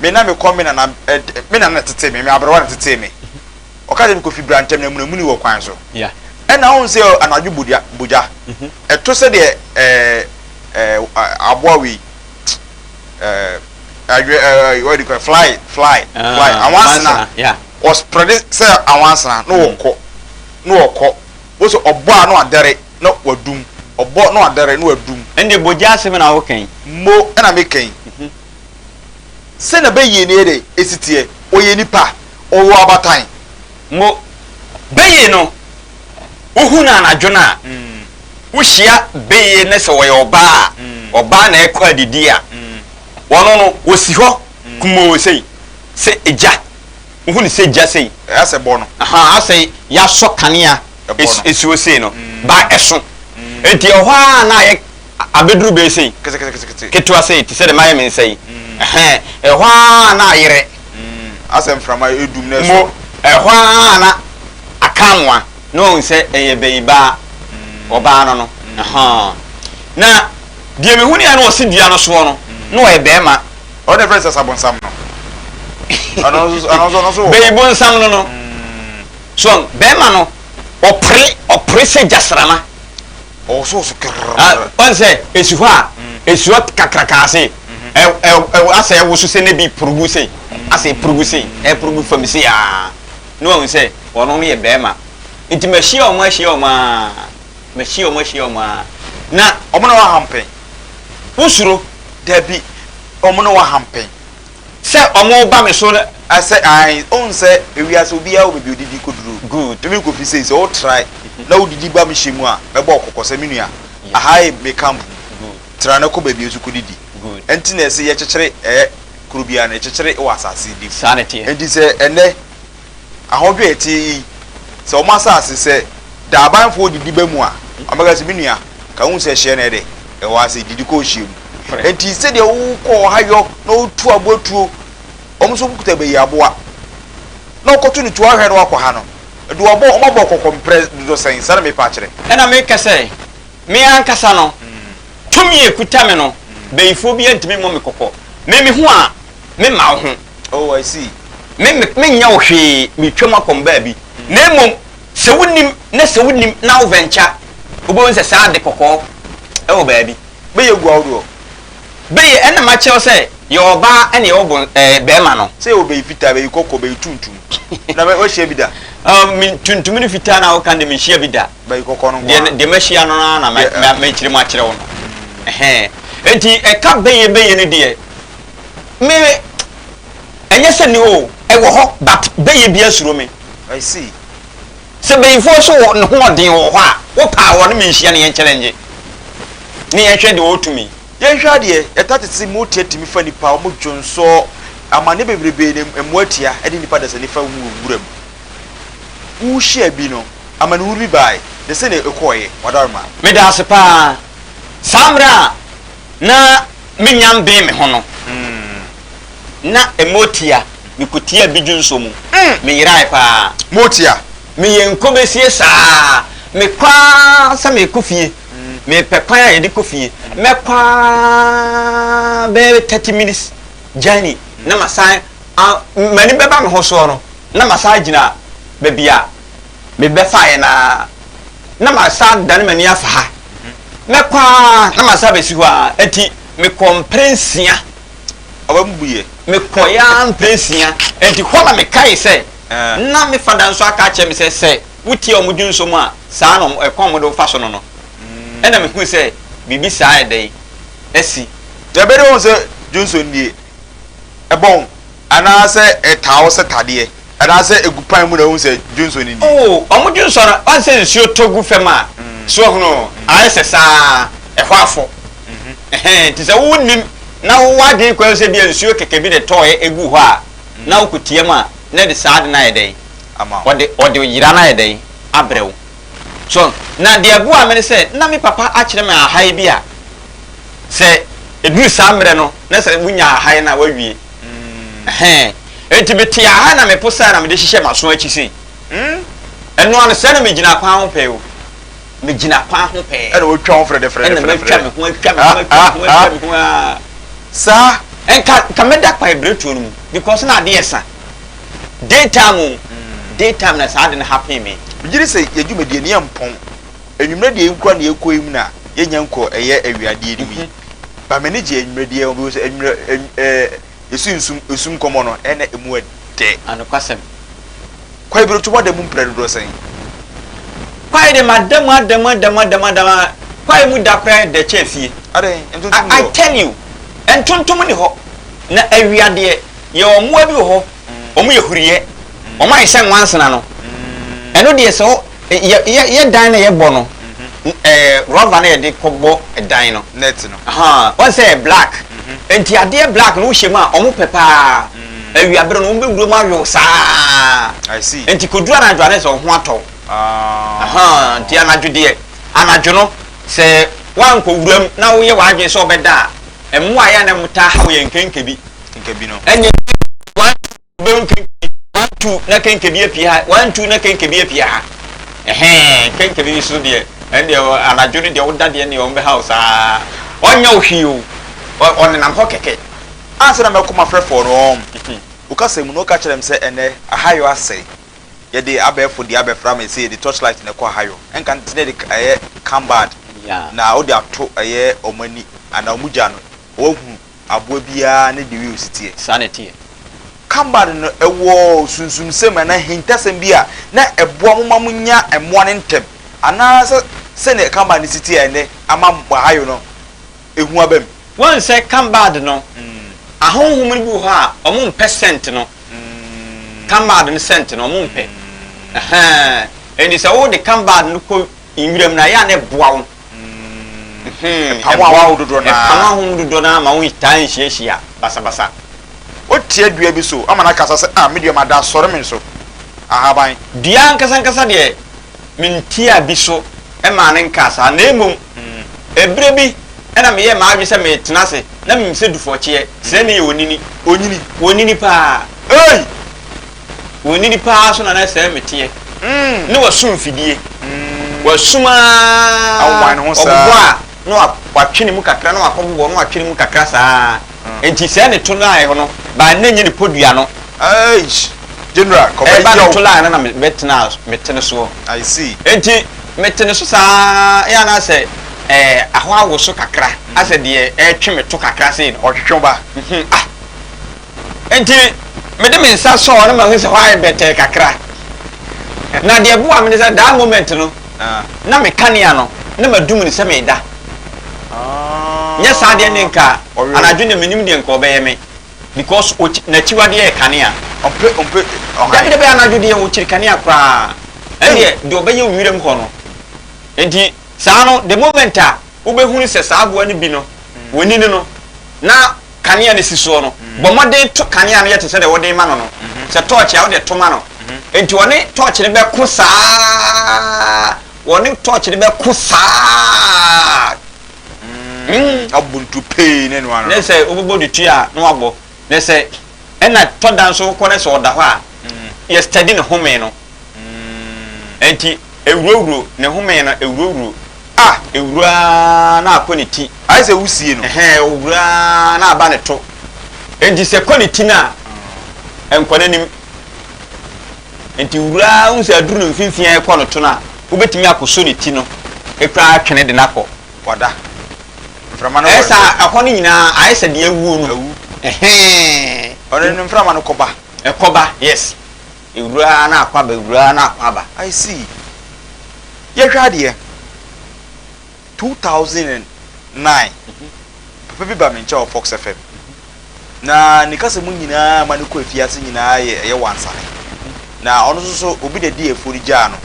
Me na mekɔ me nana ɛd me nana na tetee me, me aberewa na tetee me. Ɔka sɛ mekɔfi Brantɛm na amunamuni wɔ kwan so. Ɛnna wohu sɛ anadwo bogya bogya. Ɛto sɛdeɛ ɛɛ ɛɛ aboa wei ɛɛ adwe ɛɛ what do you call it fly fly fly anwansena ɔsprɛde sɛ anwansena na ɔkɔ na ɔkɔ wo sɛ ɔbɔ a na wadɛre na wadum ɔbɔ na wadɛre na wadum. Ɛnde bogya asɛm na woka yi. Mo ɛna meka yi. Sɛ na Beye ne yɛdɛ esi teɛ? Ɔyɛ nipa? Ɔwɔ abatan? Mo Beye no wo hu no anadwo no a wo hyia Beye ne sɛ ɔyɛ ɔbaa a ɔbaa na ɛkɔ adidi a ɔno no ɔsi hɔ kumoo sei sɛ gya wo hu no sɛ gya sei Asɛ bɔ no. Ahaa asɛ yasɔ kanea esi hɔ sei no baa ɛso nti ɛhɔ a na ayɛ. abeduru bɛn sei ketekete ketewa sei te sɛ de mayɛ me nsa yi ɛhɛn ɛhɔ ara na ayerɛ asɛ mframa edum na ɛsɔ ɛhɔ ara na akamoa na ɔn sɛ ɛyɛ bɛyi baa ɔbaa no no ɛhɔn na deɛ me huni a na ɔsi dua no soɔ no na ɔyɛ bɛrima ɔde fɛ sɛ sabonsam no ɛno nso ɛno nso ɛno nso wɔ bɛyi bonsam no no so bɛrima no ɔpere ɔpere sɛ gyasrama. ɔwosow so kerrrr. Ah, ɔn sɛ esi hɔ a, esuɔ kakraka ase, ɛ, ɛ, ɛ, asɛ ɛwoso se na bi purugu se, asɛ epurugu se, ɛpurugu fam se aa. Na wahu sɛ wɔnom yɛ bɛɛma. Nti mahyia wɔn ahyia wɔn aa, mahyia wɔn ahyia wɔn aa. Na. Wɔn na wɔahampɛn. Wosuro? Dabi, wɔn na wɔahampɛn. Sɛ ɔmo ba me so sɛ ae. Ohu sɛ ewiase obiara wɔ baabi odidi koduru. Good. Emi Kofi sei sɛ wo trae na wo didi ba me hyɛ mu a mɛbɔ wo kɔkɔ sɛ me nua aha ye me camp mu. Good. Tra na kɔ baabi nso kodidi. Good. Ɛnti na yɛse yɛkyekyere ɛyɛ kuro biara no ɛkyekyere wɔ asase de mu. Saa na ɛteɛ. Ɛnti sɛ ɛnɛ. ahɔhwɛ a ɛteɛ yi sɛ wɔn asase sɛ daabanfoɔ didi ba mu a, wɔbɛka sɛ, Me nua, ka wohu sɛ ɛhyeɛ na ɛdɛ ɛwɔ ha sɛ didi kɔ ɔhyeɛ mu. Enti sɛdeɛ wokɔ ɔhayɔ na wotu aboa tuo, wɔn nso wɔkuta bayi aboa na wɔkɔto no tuo ahwɛ na wɔakɔha no, de wɔabɔ, wɔabɔ kɔkɔ mprɛ dodo sɛn? Saa na merepɛ akyerɛ. Ɛnna meka sɛ, Me ankasa no, tumi a ɛkuta me no, bayifoɔ biara ntumi mmɔ me kɔkɔ. Me me ho a, me mma wo ho. Oh, I see. Me, me, menyɛ wo hwee, meretwam akɔ me baabi. Na mmom, sɛ wonim, na sɛ wonim, na wo venture, wobɛhu sɛ saa ade kɔkɔɔ ɛwɔ baabi. Bɛyɛ gu ahodoɔ. Bɛyɛ, ɛna makyerɛ wo sɛ, yɛwɔ ɔbaa ɛna yɛwɔ bon, ɛɛ, bɛɛma no. Sɛ yɛwɔ bɛyɛ fitaa, bɛyɛ kɔkɔɔ, bɛyɛ tuntum. Na bɛ, woahyia bi da? Ah, me, tuntum ne fitaa no a woka no deɛ, menhyia bi da. Bɛyɛ kɔkɔɔ no nko ara. Deɛ, deɛ mahyia no no ara na mɛ, mɛ, mɛkyerɛ mu akyerɛ wo no. Ɛhɛɛ. Enti, ɛka bɛyɛ, bɛyɛ no deɛ, me ɛnyɛ sɛ ni oo ɛwɔ hɔ but bɛyɛ bia suro me I see sɛ bɛyifoɔ so wɔ ne ho ɔden wɔ hɔ a wo paa wɔ ne me nhyia ne yɛn kyɛlɛngye ne yɛn hwɛ deɛ ɔtumi. Yɛn hwɛ adeɛ ɛta tete mu tia tumi fa nipa ɔmo dwonsɔɔ amaneɛ bebrebee na ɛmoa tia ɛde nipa dasani fa wu wɔ nwura mu wo hyia bi no amanehunu bi baaɛ na sɛnea ɛkɔɔɛ wadaroma. Medaase paa saa mmerɛ a na me nyan bee me ho no, na motia mekotia bidwo nso mu, me yerae paa. Motia. Me yɛ nkobesie saa, me kɔ ara sɛ me kɔ fie, me pɛ kwan a yɛde kɔ fie, mɛ kɔ ara bɛyɛ thirty minutes journey na ma san, a, m'ani bɛba me ho soɔ no, na ma san agyina baabi a. mebɛfaeɛ no ara na masan adane m'ani afa ha. Mɛkɔ ara na masan abɛsi hɔ ara. Enti mekɔɔ mprɛ nsia. Ɔba mu buiɛ. Mekɔeɛ ara mprɛ nsia. Enti hɔ na mekae sɛ, na me fada nso aka akyerɛ me sɛ, sɛ wotie wɔn dwonsɔ mu a, saa na wɔn, ɛkwan a wɔde wo fa so no no. Ɛnna mehui sɛ biribi saa ayɛ dɛn asi. Yɛbɛde wɔn sɛ dwonsɔ nie. Ɛbɔn. Anaasɛ ɛtaa wo setadeɛ. Anaasɛ ɛgu pan mu na wohu sɛ dwonsɔ no ni. Oh, wɔn dwonsɔ no, woahu sɛ nsuo tɔ gu fam a, so woahunu? Ayɛ sɛ saa, ɛhɔ afɔ. Ɛhɛn, enti sɛ wonnim na wowɔ adwene koraa sɛ ebia nsuo kɛkɛ bi na ɛtɔeɛ guu hɔ a, na wokɔ team a, na ɛde saa ade no ayɛ dɛn? Ɔde, ɔde oyera no ayɛ dɛn? Abrɛ wo. So, na deɛ ɛboaa me ne sɛ, na me papa akyerɛ me ahaeɛ bi a, sɛ ɛduru saa mmerɛ no, na sɛ wonya ahaeɛ no a, woawie. Ɛhɛɛ. Enti metee aha na mepo saa na mede hyehyɛɛ m'aso akyi sei. Mm. Ɛno ara no, sɛɛ na megyinaa kwan ho pɛɛ o. Megyinaa kwan ho pɛɛ. Ɛna wɔatwa ho frɛdɛfrɛdɛfrɛdɛfrɛ. Ɛna matwa me ho atwa me ho atwa me ho atwa me ho aa. Saa. Nka, nka mɛda kwaebiretuo no mu because na adeɛ resa. Day time o. Day time na saa ade no happen me. Megye di sɛ yɛn dwumadie no yɛmpɔn. Anwummerɛ deɛ yɛn kura na yɛkɔ yi mu na yɛnya nkɔ ɛyɛ awiadeɛ no mu yi. But m'ani gye anwummerɛ biara ho because anwummerɛ ɛɛ yɛsi nsum esum nkɔmɔ no ɛna emu ɛdɛ. Anokwasɛm. Kwae bi reto w'adamu mprɛ dodoɔ sɛn? Kwae de m'adamu adamu adamu adamu adamu aa kwae mu da koraa ɛdɛ kyɛn fie. Adɛn? Ntontom nni hɔ? I tell you ntontom nni hɔ na awia deɛ yɛwɔ mmoa bi wɔ hɔ wɔn yɛ huruyɛ wɔn ayɛ sɛ nwansena no ɛno deɛ sɛ wo Yɛ yɛ yɛ dan na yɛ bɔ no ɛɛ rɔva na yɛ de kɔ bɔ ɛdan no. Nɛt no. Ahaa wɔn sɛ yɛ blak nti adeɛ blak no wo hyɛ mu a ɔmo pɛ paa awia bere no ɔmo bɛ wura mu ayow saa nti kɔ duru anadwo a na yɛ sɛ ɔho atɔ wo ahaa nti anadwo deɛ anadwo no sɛ wɔn kɔ wura mu na wo yɛ wɔn adwene sɛ ɔbɛ da a ɛmoa yɛ a na ɛmo taa haw yɛ nkenke bi ɛnyɛ. wobɛhu kenkɛbi one two na kenkɛbi apue ha one two na kenkɛbi apue ha ɛhɛn kenkɛbi bi so deɛ ɛndeɛ anadwo no deɛ woda deɛ neɛ wɔn bɛha wo saa ɔnyɛ wo hwee o ɔnenam hɔ kɛkɛ ansa na mɛkɔ mafrɛfoɔ no wɔn wokasa mu na woka kyerɛ m sɛ ɛnɛ ahayɔ asɛe yɛde abɛɛfo deɛ abɛfra me sɛ yɛde torchlight na ɛkɔ ahayɔ ɛnka nti na yɛde ɛyɛ cambard na wode ato ɛyɛ wɔn ani anaa wɔn gya no wɔahunu aboa biara ne deɛ ɔyɛ ɔsetie. Saa na ɛteɛ. Kabad no wɔ sunsumsɛm anaa ahintasɛm bi a na ɛboa mo ma monya mmoa no ntɛm, anaasɛ sɛdeɛ kabad no si teɛ ɛnnɛ ama Ohio no ɛhu aba mu? Woahu sɛ kabad no, ahonhom no bi wɔ hɔ a wɔmpɛ sɛnt no, kabad no sɛnt no, wɔmpɛ. Ɛhɛɛ. Ɛnti sɛ wode kabad no kɔ nwiram no a, ɛyɛ a na ɛboa wo. Ɛpaw ahɔho dodoɔ no ara. Ɛpaw ahɔho dodoɔ no ara ma wɔtaa nhyiahyia basabasa. Wotia dua bi so ama no akasa sɛ, Ah, me dua, mada asɔre me nso ahaban. Dua ankasa ankasa deɛ, mentiaa bi so maa no nkaa saa, na mmom ɛberɛ bi na meyɛɛ m'adwene sɛ meretena ase, na menim sɛ dufɔkyeɛ, srɛ ne yɛ onini. Ɔnyini. Ɔnyini paa. Ei! W'anini paa so na na sɛɛ meteɛ Ne w'aso mfidie W'aso mu aa Ɔbobɔ a na watwe ne mu kakra Na wakɔ bobɔ na watwe ne mu kakra saa Enti sɛɛ ne to line hɔ no Baa nnɛ nyɛ ne podua no Eish General kɔ bɛyɛ o Ɛba ne to line no na mɛtena me tene soɔ I see Enti metene so saa Ɛyɛ a na asɛ ɛɛ ahɔ awoso kakra Asɛ deɛ ɛretwe me to kakra sei no Ɔtwetwe wo ba? Mhmm ah. Enti mede me nsa sɔɔ no ma mehu sɛ hɔ ayɛ bɛtɛɛ kakra. Na deɛ ɛboaa me ne sɛ that moment no na me kanea no na madum no sɛ mereda. Nyɛ saa deɛ ne nka anadwo deɛ mennim deɛ nka ɔbɛyɛ me because n'akyiwadeɛ yɛ kanea. Dabi dabi anadwo deɛ ɔkyiri kanea koraa. Ɛndeɛ deɛ ɔbɛyɛ wiram hɔ no. Enti saa no the moment a wobɛhunu sɛ saa aboa no bi no wɔ ani no no na kanea no si soɔ no, bɔ mmɔden to kanea no yɛ te sɛ deɛ wode rema no no, sɛ tɔɔkye a, wode to ma no. Enti ɔne tɔɔkye no bɛko saa, ɔne tɔɔkye no bɛko saa. Ɔbɔ ntu pee na ɛno ara. Na sɛ wobɛbɔ ne ti a, na wabɔ. Na sɛ. Ɛna tɔ da nso wokɔ na sɛ ɔda hɔ a yɛ study ne home no nti ɛwurawuro ne home no ɛwurawuro ah ɛwuraa na akɔ ne ti ayɛ sɛ wusie no ɛhɛn ɛwuraa na aba ne to nti sɛ kɔ ne ti no a ɛnkɔ n'anim nti wuraa wohu sɛ aduru no mfimfini a ɛkɔ no to no a wobɛtumi akɔsɔ ne ti no ɛkura atwene de no akɔ Wada. Mframa no wɔ. Ayɛ saa a, ɛhɔ no nyinaa ayɛ sɛ deɛ awuo no. Awu. Ɛhɛɛ. Ɔno no mframa no kɔba. Ɛkɔba, yes. Ɛwura ara na akɔ aba, ɛwura ara na akɔ aba. I see. Yɛhwɛ adeɛ, 2009, papa bi ba me nkyɛn wɔ Fox FM. Na ne kasa mu nyinaa ma no kɔ afiase nyinaa yɛ ɛyɛ wansane. Na ɔno nso so obi na ɛde afuo no gyaa no.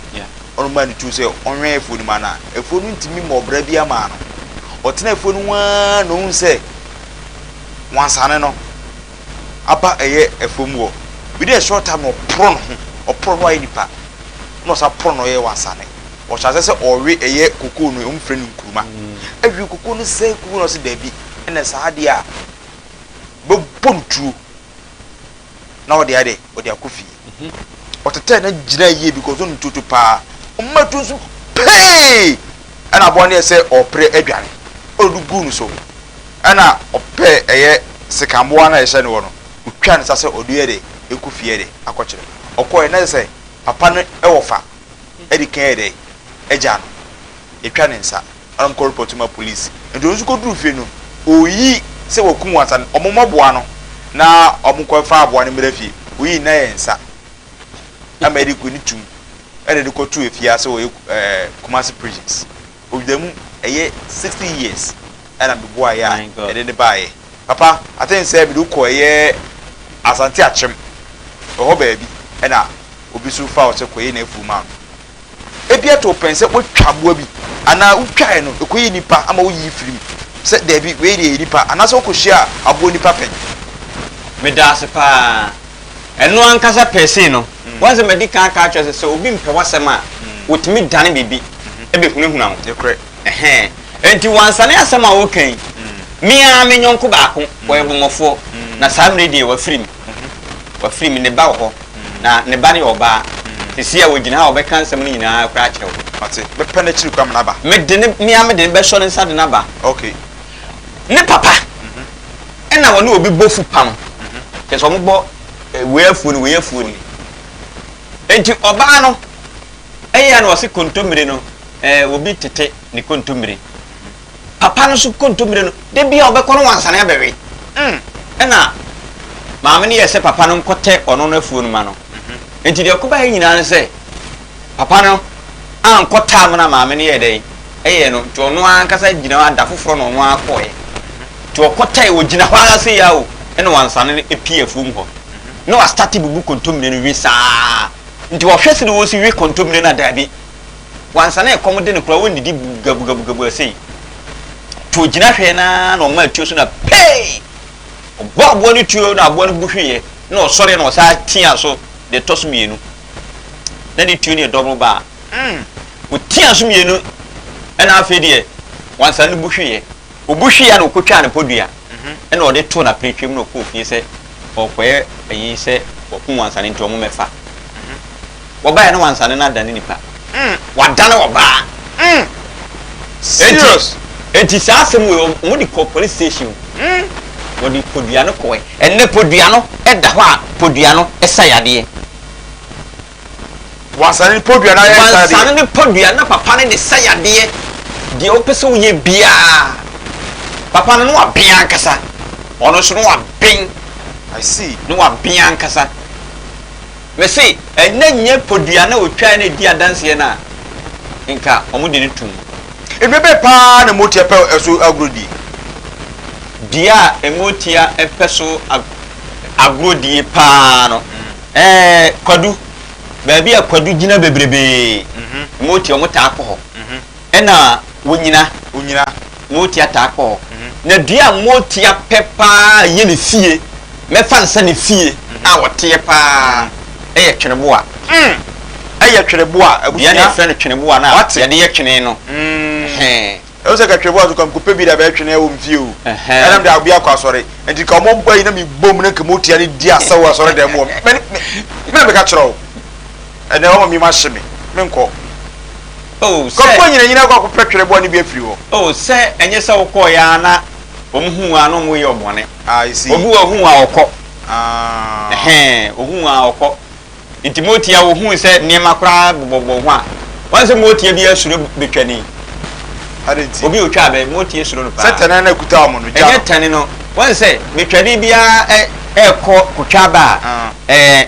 Ɔno maa ne tuo sɛ ɔnwɛn afuo no mu anaa. Afuo no ntumi mmɔ ɔbra bi amaa no. Ɔtena afuo no ho ara na ohun sɛ wansane no aba ɛyɛ afuo mu hɔ. Within a short time no ɔporo ne ho, ɔporo ne ho ayɛ nipa, na ɔsan poro ne ho yɛ wansane. ɔhyɛ ase sɛ ɔwe ɛyɛ kokoo no wɔn frɛ no nkuruma awie kokoo no sɛe kuku na ɔsɛ daabi ɛna saa adeɛ a bɛbɔ no tuo na ɔde ade ɔde akɔ fie mhm. ɔtetɛ na gyina yie because ɔno tuotu paa ɔma tu nso pee ɛna aboa no yɛ sɛ ɔpere adwane ɔde do gu no so ɛna ɔpɛ ɛyɛ sekamboa na ɛhyɛ no wɔ no ɔtwa no sa sɛ ɔde yɛ de ɛkɔ fie de akɔkyerɛ ɔkɔɛ na sɛ papa no ɛwɔ fa di kan yɛ dɛn? Gyaa no. Yɛtwa ne nsa. Ɛnna wɔkɔ repɔto ma polisi. Nti ɔno nso kɔduruu fie no, ɔyi sɛ wakum ansa no, wɔmmɔboa no na wɔnkɔfa aboa no mmra fie. Ɔyi nna yɛ nsa ama yɛde ne tum, ɛnna yɛde kɔtoo afiase wɔ Kumasi prisons. Ɔda mu ɛyɛ sixty years ɛna me boaeɛ a ɛde no baeɛ. Papa I think sɛ mede wo kɔ ɛyɛ Asante Akyem ɛhɔ baabi ɛna obi nso faa wo sɛ kɔyɛ n'afuo ma no. Ɛbi ɛto wo pɛn sɛ woatwa aboa bi anaa wotwaeɛ no ɛkɔyɛɛ nipa ama woyii firii mu sɛ daabi wei deɛ ɛyɛ nipa anaasɛ wokɔhyiaa aboa nipa pɛn? Medaase paa. Ɛno ankasa pɛsee no. Woahu sɛ madi kan aka akyerɛ wo sɛ, sɛ obi mpɛ w'asɛm a, otumi dane biribi de hunahuna wo. Ɛhɛɛ. Enti wansane asɛm a woreka yi, me ara me yɔnko baako, ɔyɛ bɔmmɔfoɔ, na saa mmerɛ yi deɛ wafiri me. Wafiri me. Ne ba wɔ hɔ, na ne ba no yɛ ɔbaa. Seesei a ɔgyina ha a, ɔbɛka nsɛm no nyina ara koraa akyerɛ wo. Mate. Mɛpɛ no akyiri koraa mede no aba. Mede no, me ara mede no bɛsɔ ne nsa de no aba. Ok. Ne papa na wɔne obi bɔ fupam, kyerɛ sɛ wɔbɔ. Wei afuo no, wei afuo ni. Enti ɔbaa no ɛyɛ a na ɔse kontommire no ɛɛ obi tete ne kontommire. Papa no so kontommire no da bi a ɔbɛkɔ no wansane abɛwe. Mm. Ɛna maame no yɛ sɛ papa no nkɔtɛ ɔno no afuo no ma no. Enti deɛ ɔkɔbaeɛ nyinaa no sɛ Papa no ankɔ taa no na maame no yɛɛ dɛn? Ɛyɛɛ no nti ɔno ankasa gyina hɔ ara da foforɔ na ɔno ara kɔɔɛ nti ɔkɔ tae ɔgyina hɔ ara sei ara o ɛna wansane no ɛpie afuom hɔ na wastate bubu kontomire no we saa nti ɔhwɛ sɛdeɛ ɔsi we kontomire no a daabi wansane ɛkɔm de no koraa ɔnnidi bugabugabugabu ɛsei nti ɔgyina hwɛɛ no ara na ɔmaa tuo so na pee ɔbɔ aboa no tuo na aboa no bu hweeɛ na ɔsɔre na ɔsaa tia so deɛ tɔ so mmienu na ne tuo no yɛ dɔboro ba a, ɔtiaa so mmienu, ɛna afei deɛ wansa no bu hweeɛ. Ɔbu hweeɛ a na ɔkɔtwaa ne pɔdua, ɛna ɔde too n'apiretwam na ɔkɔɔ fie sɛ ɔrekɔyɛ ayi sɛ wakum wansa no nti wɔmmɛfa. Wɔbaeɛ no wansa no na adane nipa. Mm, wadane ɔbaa. Mm, serious. Enti, enti saa asɛm wei wɔn de kɔ police station. Mm. Wɔde podua no kɔɛ. Ɛnɛ podua no ɛda hɔ a podua no ɛsa yadeɛ. Wansane ne podua no ayɛ sa yadeɛ. Wansane ne podua na papa no de sa yadeɛ. Deɛ wopɛ sɛ woyɛ biara. Papa no ne waben ankasa. Ɔno nso ne waben. I see. Ne waben ankasa. Mese ɛnyɛ nyɛ podua na otwae na edi adanseɛ no a nka wɔde no tom. Dua bɛn paa na motia pɛ so agorɔdie? Dua a motia pɛ so agorɔdie paa no ɛɛ kwadu. Baabi a kwadu gyina bebrebee motia wɔtaa kɔ hɔ. Ɛna wonyina wonyina motia taa kɔɔ na dua a motia pɛ paa yɛ ne fie mɛfa nsa ne fie a wɔteɛ paa ɛyɛ tweneboa mm ɛyɛ tweneboa abusua yɛne ɛfrɛ no tweneboa no a yɛde yɛ twene no mm ɛwɔ sɛ ka tweneboa so ka mekɔpɛ bi da bɛyɛ twene ɛwɔ mfie o ɛna mede awobi akɔ asɔre nti ka ɔmo bɔ yi na mebom na nka motia no di asɛw asɔre dɛm wɔ me na meka kyerɛ wo Ɛnɛ wɔma mim ahye me, menkɔ. Oh, sɛ. Kɔkɔ anyinanyin akɔ akɔpɛ twere bɔne bi afiri hɔ. Oh, sɛ ɛnyɛ sɛ wokɔeɛ ara na wɔn hu wo a na wɔyɛ wo bɔne. Ah, I see. Obi wɔ ɔhu wo a ɔkɔ. Ah. Ɛhɛn, ɔhu wo a ɔkɔ. Nti Motia wɔhuu sɛ nneɛma koraa bobɔbobɔ ho a, woahu sɛ Motia biara suro bɛtwani. Adɛn nti? Obi a ɔtwa abɛ, Motia suro no paa. Sɛ tɛne no akuta wɔn no, gya no. Ɛnyɛ tɛne no, woahu sɛ bɛtwani biara ɛrekɔ kɔtwa abɛ a, ɛɛ,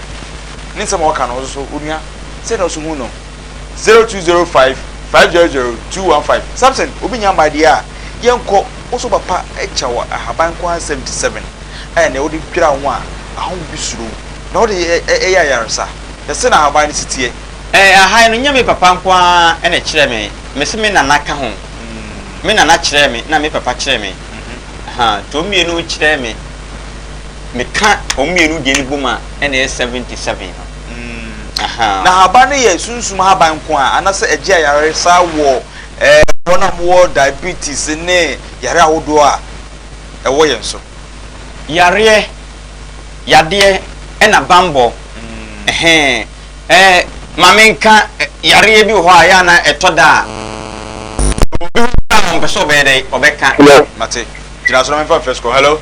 ne nsɛm a ɔka no nso onua sɛ na ɔso hu no zero two zero five five zero zero two one five samson obi nya mmaa deɛ a yɛn nkɔ woso papa ɛkya wɔ ahaban nko ara seventy seven ɛyɛ nea wode dwira ho a ahɔho bi suro wo na wode ɛyɛ ayaresa yɛse na ahaban no si teɛ. Ɛɛ ahan no nyɛ me papa nko ara na ɛkyerɛɛ me mese me nana ka ho me nana kyerɛɛ me na me papa kyerɛɛ me ahaa nti wɔn mmienu kyerɛɛ me. Me ka wɔn mmienu deɛ no bom a ɛna ɛyɛ seventy seven no. Ahaa. Na haban no yɛ sunsum haban nko a anasɛ ɛgye ayaresa wɔ ɛɛ wɔn a wɔwɔ diabetes ne yare ahodoɔ a ɛwɔ yɛn so? Yareɛ, yadeɛ ɛna banbɔ. Ɛhɛn. Ɛɛ ma me nka yareɛ bi wɔ hɔ a yɛ a na ɛtɔ da a obi ho a ɔmpɛ sɛ ɔbɛyɛ dɛ ɔbɛka. Hello. Mate. Gyina so na memfa mfɛ sukɔ. Hello.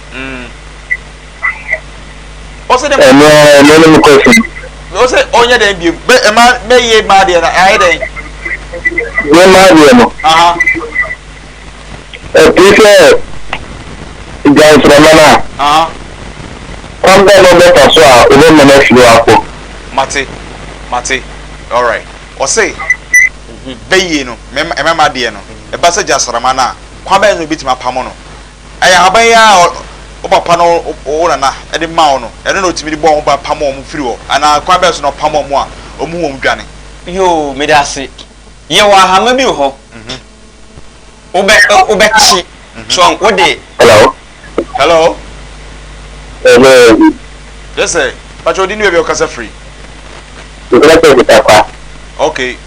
ɔsɛ dɛ ɛno ara ɛno no question ɔsɛ ɔnyɛ dɛn bio bɛ ɛma bɛyɛ maa deɛ no ayɛ dɛn yɛ maa deɛ no ɛte sɛ gyansrɛma no a kwan bɛ na ɔbɛfa so a wobɛma no afiri akɔ mate mate alright ɔsɛ bɛyie no ɛma ma deɛ no ɛba sɛ gyansrɛma no a kwan bɛ na obɛtumi apamo no Ɛyɛ ahaban yi ara a wo papa ne wo nana de maa wo no, ɛno na otumi de bɔɔ ho ban pam wɔn firi hɔ, anaa kwan bɛn so na ɔpam wɔn a wɔhu wɔn dwane? Yoo, medase. Yɛwɔ ahama bi wɔ hɔ. Wobɛ wobɛte. So wode. Hello. Hello. Hello. Yes sir. Pacho, odi ni baabi a wokasa firi? Mekasa firi Agutakwa. Okay.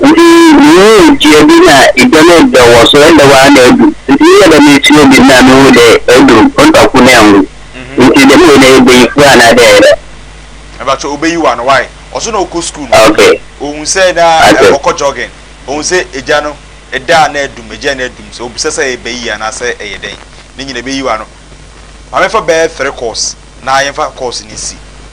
Wodii nnuho etua bi na edwa no dɛ wɔ so ndɛ woara na edu. Ntsi meyɛɛ dɛm etua bi na muhun dɛ edu ɔnntɔ kor na enwu. Ntsi dɛm wei no eyɛ bayifua anaa dɛn no? Mebakyɛw obayiwa no why? Ɔso na ɔkɔ skuul no ohun sɛ na ɔkɔ jogging ohun sɛ egya no da a na adum egya no adum sɛ obisa sɛ eba yie anaa sɛ ɛyɛ dɛn ne nyina ebeyiwa no maame fa bɛɛ fre course na yɛnfa course no nsi.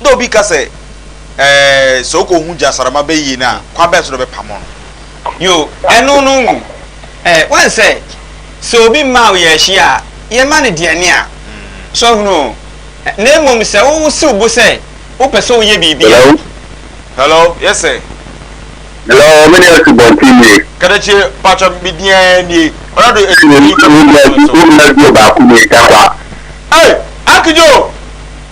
Nna obi ka sɛ, Ɛɛ, sɛ okohu gyasarama bɛyie no a, kwan bɛn so na ɔbɛpamo no? Yoo, ɛno no ngu ɛ. Woahu sɛ, sɛ obi mma wo yɛn hye a, yɛmma no deɛ ɛne a. So ahunu? Na mmom sɛ wosi wo bo sɛ wopɛ sɛ woyɛ biribi a. Hello? Hello? Yes sir. Hello, me ne Asubɔnten nie. Kadakyie, mpakyɛ me din ara nie. Ɔrado Akyiri Yi kɔmputa so. Wo nua bio baako nie, Takwa. Ei! Akedjo!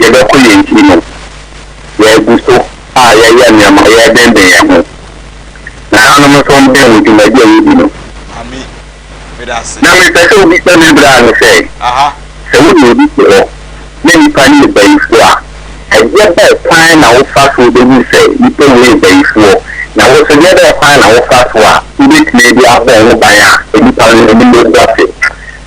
yɛbɛko yɛn ti no, yɛagu so a yɛyɛ nneɛma, yɛdenden yɛn ho. Na hanom nso ɔmo dɛn wɔ dwumadi a yɛdi no. Na mepɛ sɛ obi sɛ me bra no sɛ, sɛ wo ne obi te hɔ na nnipa no yɛ bayifoɔ a, ɛdeɛ bɛɛ kwan na wo fa soɔ bɛhunu sɛ nnipa wei yɛ bayifoɔ, na wo nso deɛ bɛɛ kwan na wo fa soɔ a wobɛtumi de abɔ ho ban a nnipa no anim bɛgu ase.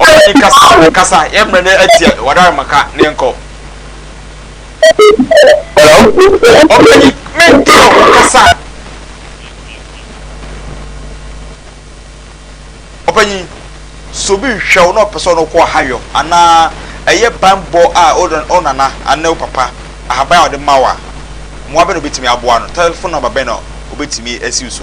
Ɔbɛnyi kasa kasa yɛn mmerɛ no atia wadare maka na yɛn kɔ. Ɔbɛnyi me nkyɛn ɔmo kasa. Ɔbɛnyi sɛ obi hwɛ wo na ɔpɛ sɛ ɔno kɔ ahayɔ anaa ɛyɛ banbɔ a wo nana anaa wo papa ahaban a ɔde ma wo a mmoa bɛn na obetumi aboa no telephone number bɛn na obetumi asiw so.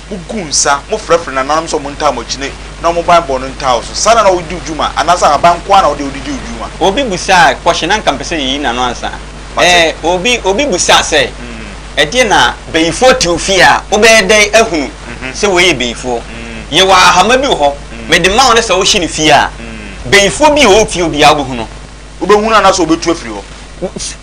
Mugu nsa, mofrɛfrɛ nananom sɛ wɔntaa mo akyi na na wɔn banbɔ no ntaa wo so. Saa na na wode di wo dwuma, anaasɛ ahaban nko ara na wode wode di wo dwuma? Obi bisaa, Kɔhye, na anka mepɛ sɛ yeyi n'ano ansa ɛ. Mate. Obi, obi bisaa sɛ, Ɛdeɛn na bayifoɔ te wo fie a, wobɛyɛ dɛn ahunu sɛ wei yɛ bayifoɔ? Yɛwɔ ahama bi wɔ hɔ, mede ma wo, na sɛ wohye no fie a, bayifoɔ bi a ɔwɔ fie hɔ biara wobɛhu no. wobɛhu no anaasɛ wɔbɛtu afiri hɔ.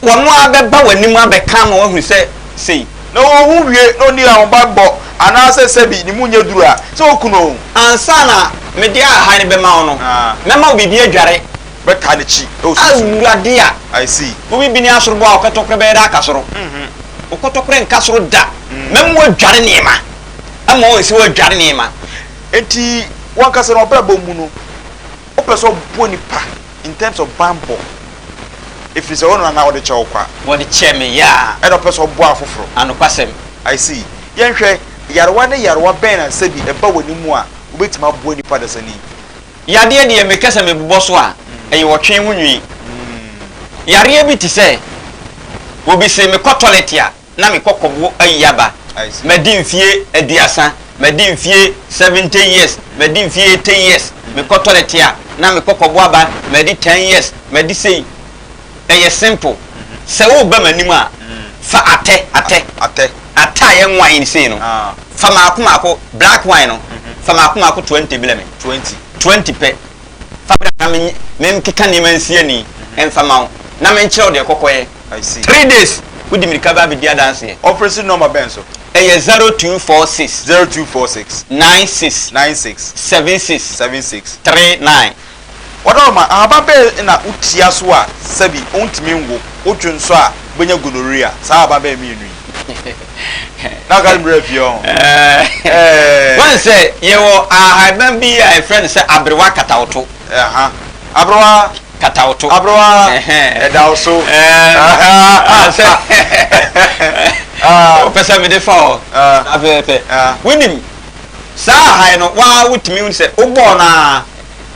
Wɔn ara bɛba w'anim abɛka ama woahu sɛ sei. Na ɔnhu wie na ɔnni ahobammɔ anaasɛ sɛbi ne mu nyɛ duru a, sɛ wɔku no o. Ansa na mede ahahan no bɛma wo no, mɛma wo biribi adware. Bɛtaa n'akyi wɔ sunsum mu. Awurade a. I see. Wo biribi ne asoroboa a wo kɔtɔkorɛ bɛyɛ dɛ aka soro. Wo kɔtɔkorɛ nka soro da. Mɛma woadware nneɛma. Ama wɔahu sɛ woadware nneɛma. Enti, wo ankasa no, w'abrabɔ mu no. Wopɛ sɛ ɔbɔ nipa in terms of banbɔ ɛfiri sɛ ɔno anaa ɔde kyɛ wo kwa. Wɔde kyɛ me yaa. Ɛna ɔpɛ sɛ ɔbɔ afoforo. Anokwasɛm. I see. Yɛnhwɛ, yarewa ne yarewa bɛn na sɛ bi ɛba w'ani mu a wobɛtumi aboa nipa dasani? Yadeɛ deɛ meka sɛ mebobɔ so a, ɛyɛ ɔtwe ho nwi. Yareɛ bi te sɛ, obi se mekɔ tɔlɛt a. na me kɔkɔbo ayi aba. Madi mfie aduasa, madi mfie seventy years, madi mfie eighty years, mekɔtɔre te a na me kɔkɔbo aba, madi ten years, madi sei. Ɛyɛ simple. Sɛ woreba m'anim a, fa atɛ, atɛ, atɛ a yɛn wine sei no, fa mmaako mmaako, black wine no, fa mmaako mmaako twenty brɛ me, twenty pɛ. Fa bra na menye menkeka nneɛma nsi ani mfa ma wo, na menkyerɛ wo deɛ kɔkɔyɛ. Three days, wode mmirika ba abɛdi adanseɛ. Ɔfrɛ si nɔma bɛn so? Ɛyɛ zero two four six. Zero two four six. Nine six. Nine six. Seven six. Seven six. Three nine. Wɔdɔma, ahaban bɛn na wotia so a sɛbi wontumi nwo, wodwo nso a wobɛnya gonorrhea, saa ahaban bɛn mmienu yi? na ɔka no berɛ fie ɔho wọ́n sɛ yɛwɔ ahaban bi a ɛfrɛ no sɛ aberewa katawoto aberewa katawoto aberewa ɛda wo so sɛ wopɛ sɛ mede fa ɔ afɛfɛ wonim saa ahae no waa wotumi wo sɛ wobɔɔ no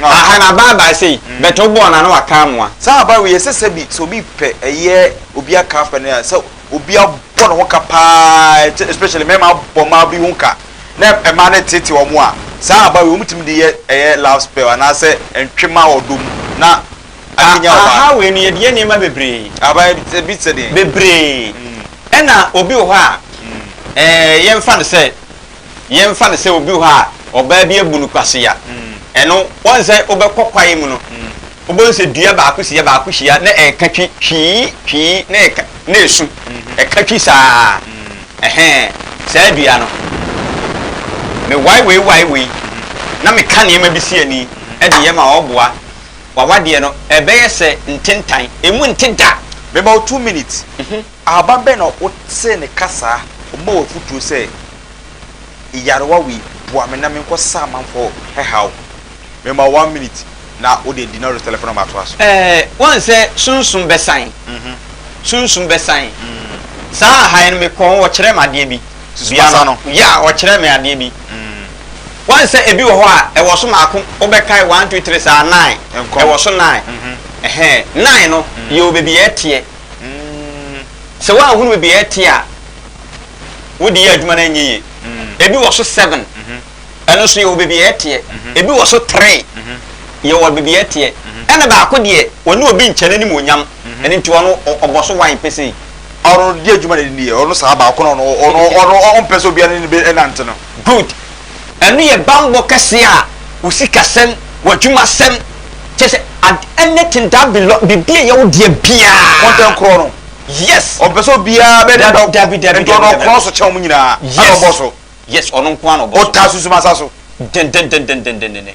a ahae no abaabae sei bɛtɛ wobɔɔ no a na waka amoa saa aba wei ɛsɛ sɛ bi sɛ obi pɛ ɛyɛ obi aka afɛ no a sɛ obi abɔ ne ho ka paa especially mmarima abɔ mmaa bi ho ka na mmaa no teetee wɔn a saa aba wei wɔtumi de yɛ ɛyɛ love spell anaasɛ ntwema wɔ ɔdɔ mu na akenya ɔbaa. Aha wei no yɛde yɛ nneɛma bebree. Aba ebi te sɛ deɛ. Bebree. Ɛna obi wɔ hɔ a ɛɛ yɛmfa no sɛ yɛmfa no sɛ obi wɔ hɔ a ɔbaa bi abu no kwasea, ɛno wɔn sɛ wobɛkɔ kwaeɛ mu no, wobɛhu sɛ dua baako si yɛ baako hyia na ɛka twi twii twii na ɛka na ɛsu ɛka twi saa ɛhɛn saa dua no me wae wei wae wei na meka nneɛma bi si ani ɛde yɛ ma ɔboa wawadeɛ no ɛbɛyɛ sɛ ntentan ɛmu nte da. About two minutes. Ahaban bɛn na wotee ne kasa a ɔma wo afotuo sɛ, Nyarewa wei, boa me na menkɔsa amanfoɔ haw? Mema wo one minute na wode Dinario's telephone number atoa so. Ɛɛ, woahu sɛ sunsum bɛsan? Sunsum bɛsan. Saa aha yi no, mekɔɔ hɔ, wɔkyerɛɛ me adeɛ bi. Sunsum asa no? Yeah, wɔkyerɛɛ me adeɛ bi. Woahu sɛ ebi wɔ hɔ a, ɛwɔ so mmaako, wobɛkae one, two, three saa, nine, ɛwɔ so nine. Ɛhɛɛ, nine no, yɛwɔ baabi a ɛteɛ. Sɛ woanhunu baabi a ɛte a wode yɛ adwuma no anyɛ yie. Ebi wɔ so seven, ɛno nso yɛwɔ baabi a ɛteɛ. Ebi wɔ so three, yɛwɔ baabi a ɛteɛ. Ɛna baako deɛ, ɔne obi nkyɛ n'anim onyam, ɛno nti ɔno ɔbɔ so wan pesee. Ɔno deɛ adwuma na ɛde no yɛ, ɔno saa baako no ɔno ɔmpɛ sɛ obiara ne no bɛnante no. Good. Ɛno yɛ bammɔ kɛseɛ a wo sikasɛm, w'adwumasɛm, kyerɛ sɛ ad anything that belong biribi a ɛyɛ wo deɛ biara. Content korɔ no. Yes. Ɔmpɛ sɛ obiara bɛ ne dɔ. Dabi dabi dabi dabi. Nti ɔno ɔkorɔ so kyɛn wɔn nyinaa. Yes. Ɛna ɔbɔ so. Yes ɔno nko ara na ɔbɔ so. Ɔtaa sunsum asa so. Dendendendendendenden.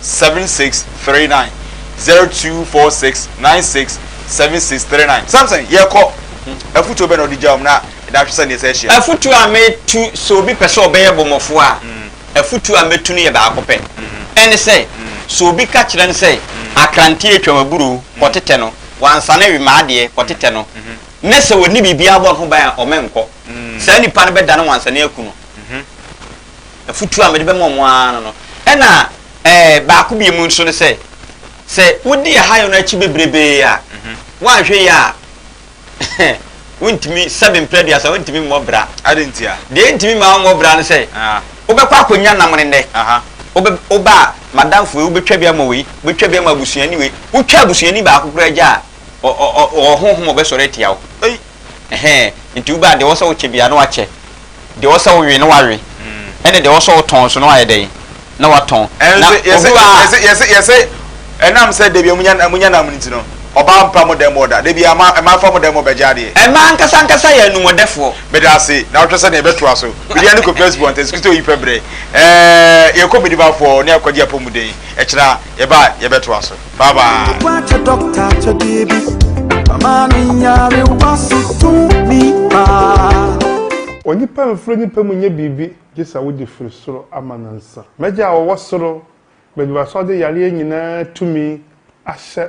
seven six three nine zero two four six nine six seven six three nine samson yɛ kɔ afutuo bɛ na ɔde gya wɔn na ɛda ahwɛ sɛ nea ɛsɛ ahyia. afutuo a metu sɛ obi pɛ sɛ ɔbɛyɛ bɔmɔfoɔ a afutuo a mɛtu no yɛ baako pɛ ɛne sɛ sɛ obi ka kyerɛ no sɛ akranteɛ atwam aburoo kɔ tetɛ no wansane we ma adeɛ kɔ tetɛ no ne sɛ ɔnni biribiara bɔ ne ho ban a ɔmɛnkɔ saa nipa no bɛdane wansane aku no. afutuo a mede bɛma wɔn ara no no. Ɛna ɛɛ baako bie mu nso ne sɛ, sɛ wodi ahayɔ no akyi bebrebee a, woanhwɛ yie a, wontumi, sɛbe mpere aduasa, wontumi mmɔ bra. Ade nti a? Deɛ ɛntumi ma wommɔ bra ne sɛ, wobɛkɔ akɔnya nam ne nnɛ. Wobɛ, woba a, madamfo wei, wobɛtwa bi ama wei, wobɛtwa bi ama abusuani wei. Wotwa abusuani baako koraa gya a, ɔ, ɔ, ɔ, ɔwɔ honhom a ɔbɛsɔre atia wo. Ɛhɛɛ, nti wobɛa deɛ ɛwɔ sɛ wokyɛ biara na woakyɛ, deɛ ɛwɔ sɛ wowe na woawe, ɛne deɛ ɛwɔ sɛ wotɔn nso na woayɛ dɛn? Na woatɔn. Na owura. Yɛse, yɛse, yɛse, ɛnam sɛ dabiara monya, monya nam no nti no, ɔbaa mpa mo dan mu ɔda, dabiara mmaa, mmaa fa mo dan mu bɛgye adeɛ. Mmaa ankasa ankasa yɛ anumɔdɛfoɔ. Medaase, na wohwɛ sɛdeɛ yɛbɛtoa so. Mede ano kɔ First Born, Tɛsikito oyi pɛ berɛ. Ɛɛ, yɛkɔ Medimafoɔ ne Akwagye Apɔmuden. Ɛkyena, yɛba a, yɛbɛtoa so. Bye bye. Onipa mfiri onipa mu nyɛ biribi gye sɛ wode firi soro ama no nsa. M'Agya a ɔwɔ soro, mede w'asoɔde yareɛ nyinaa tumi ahyɛ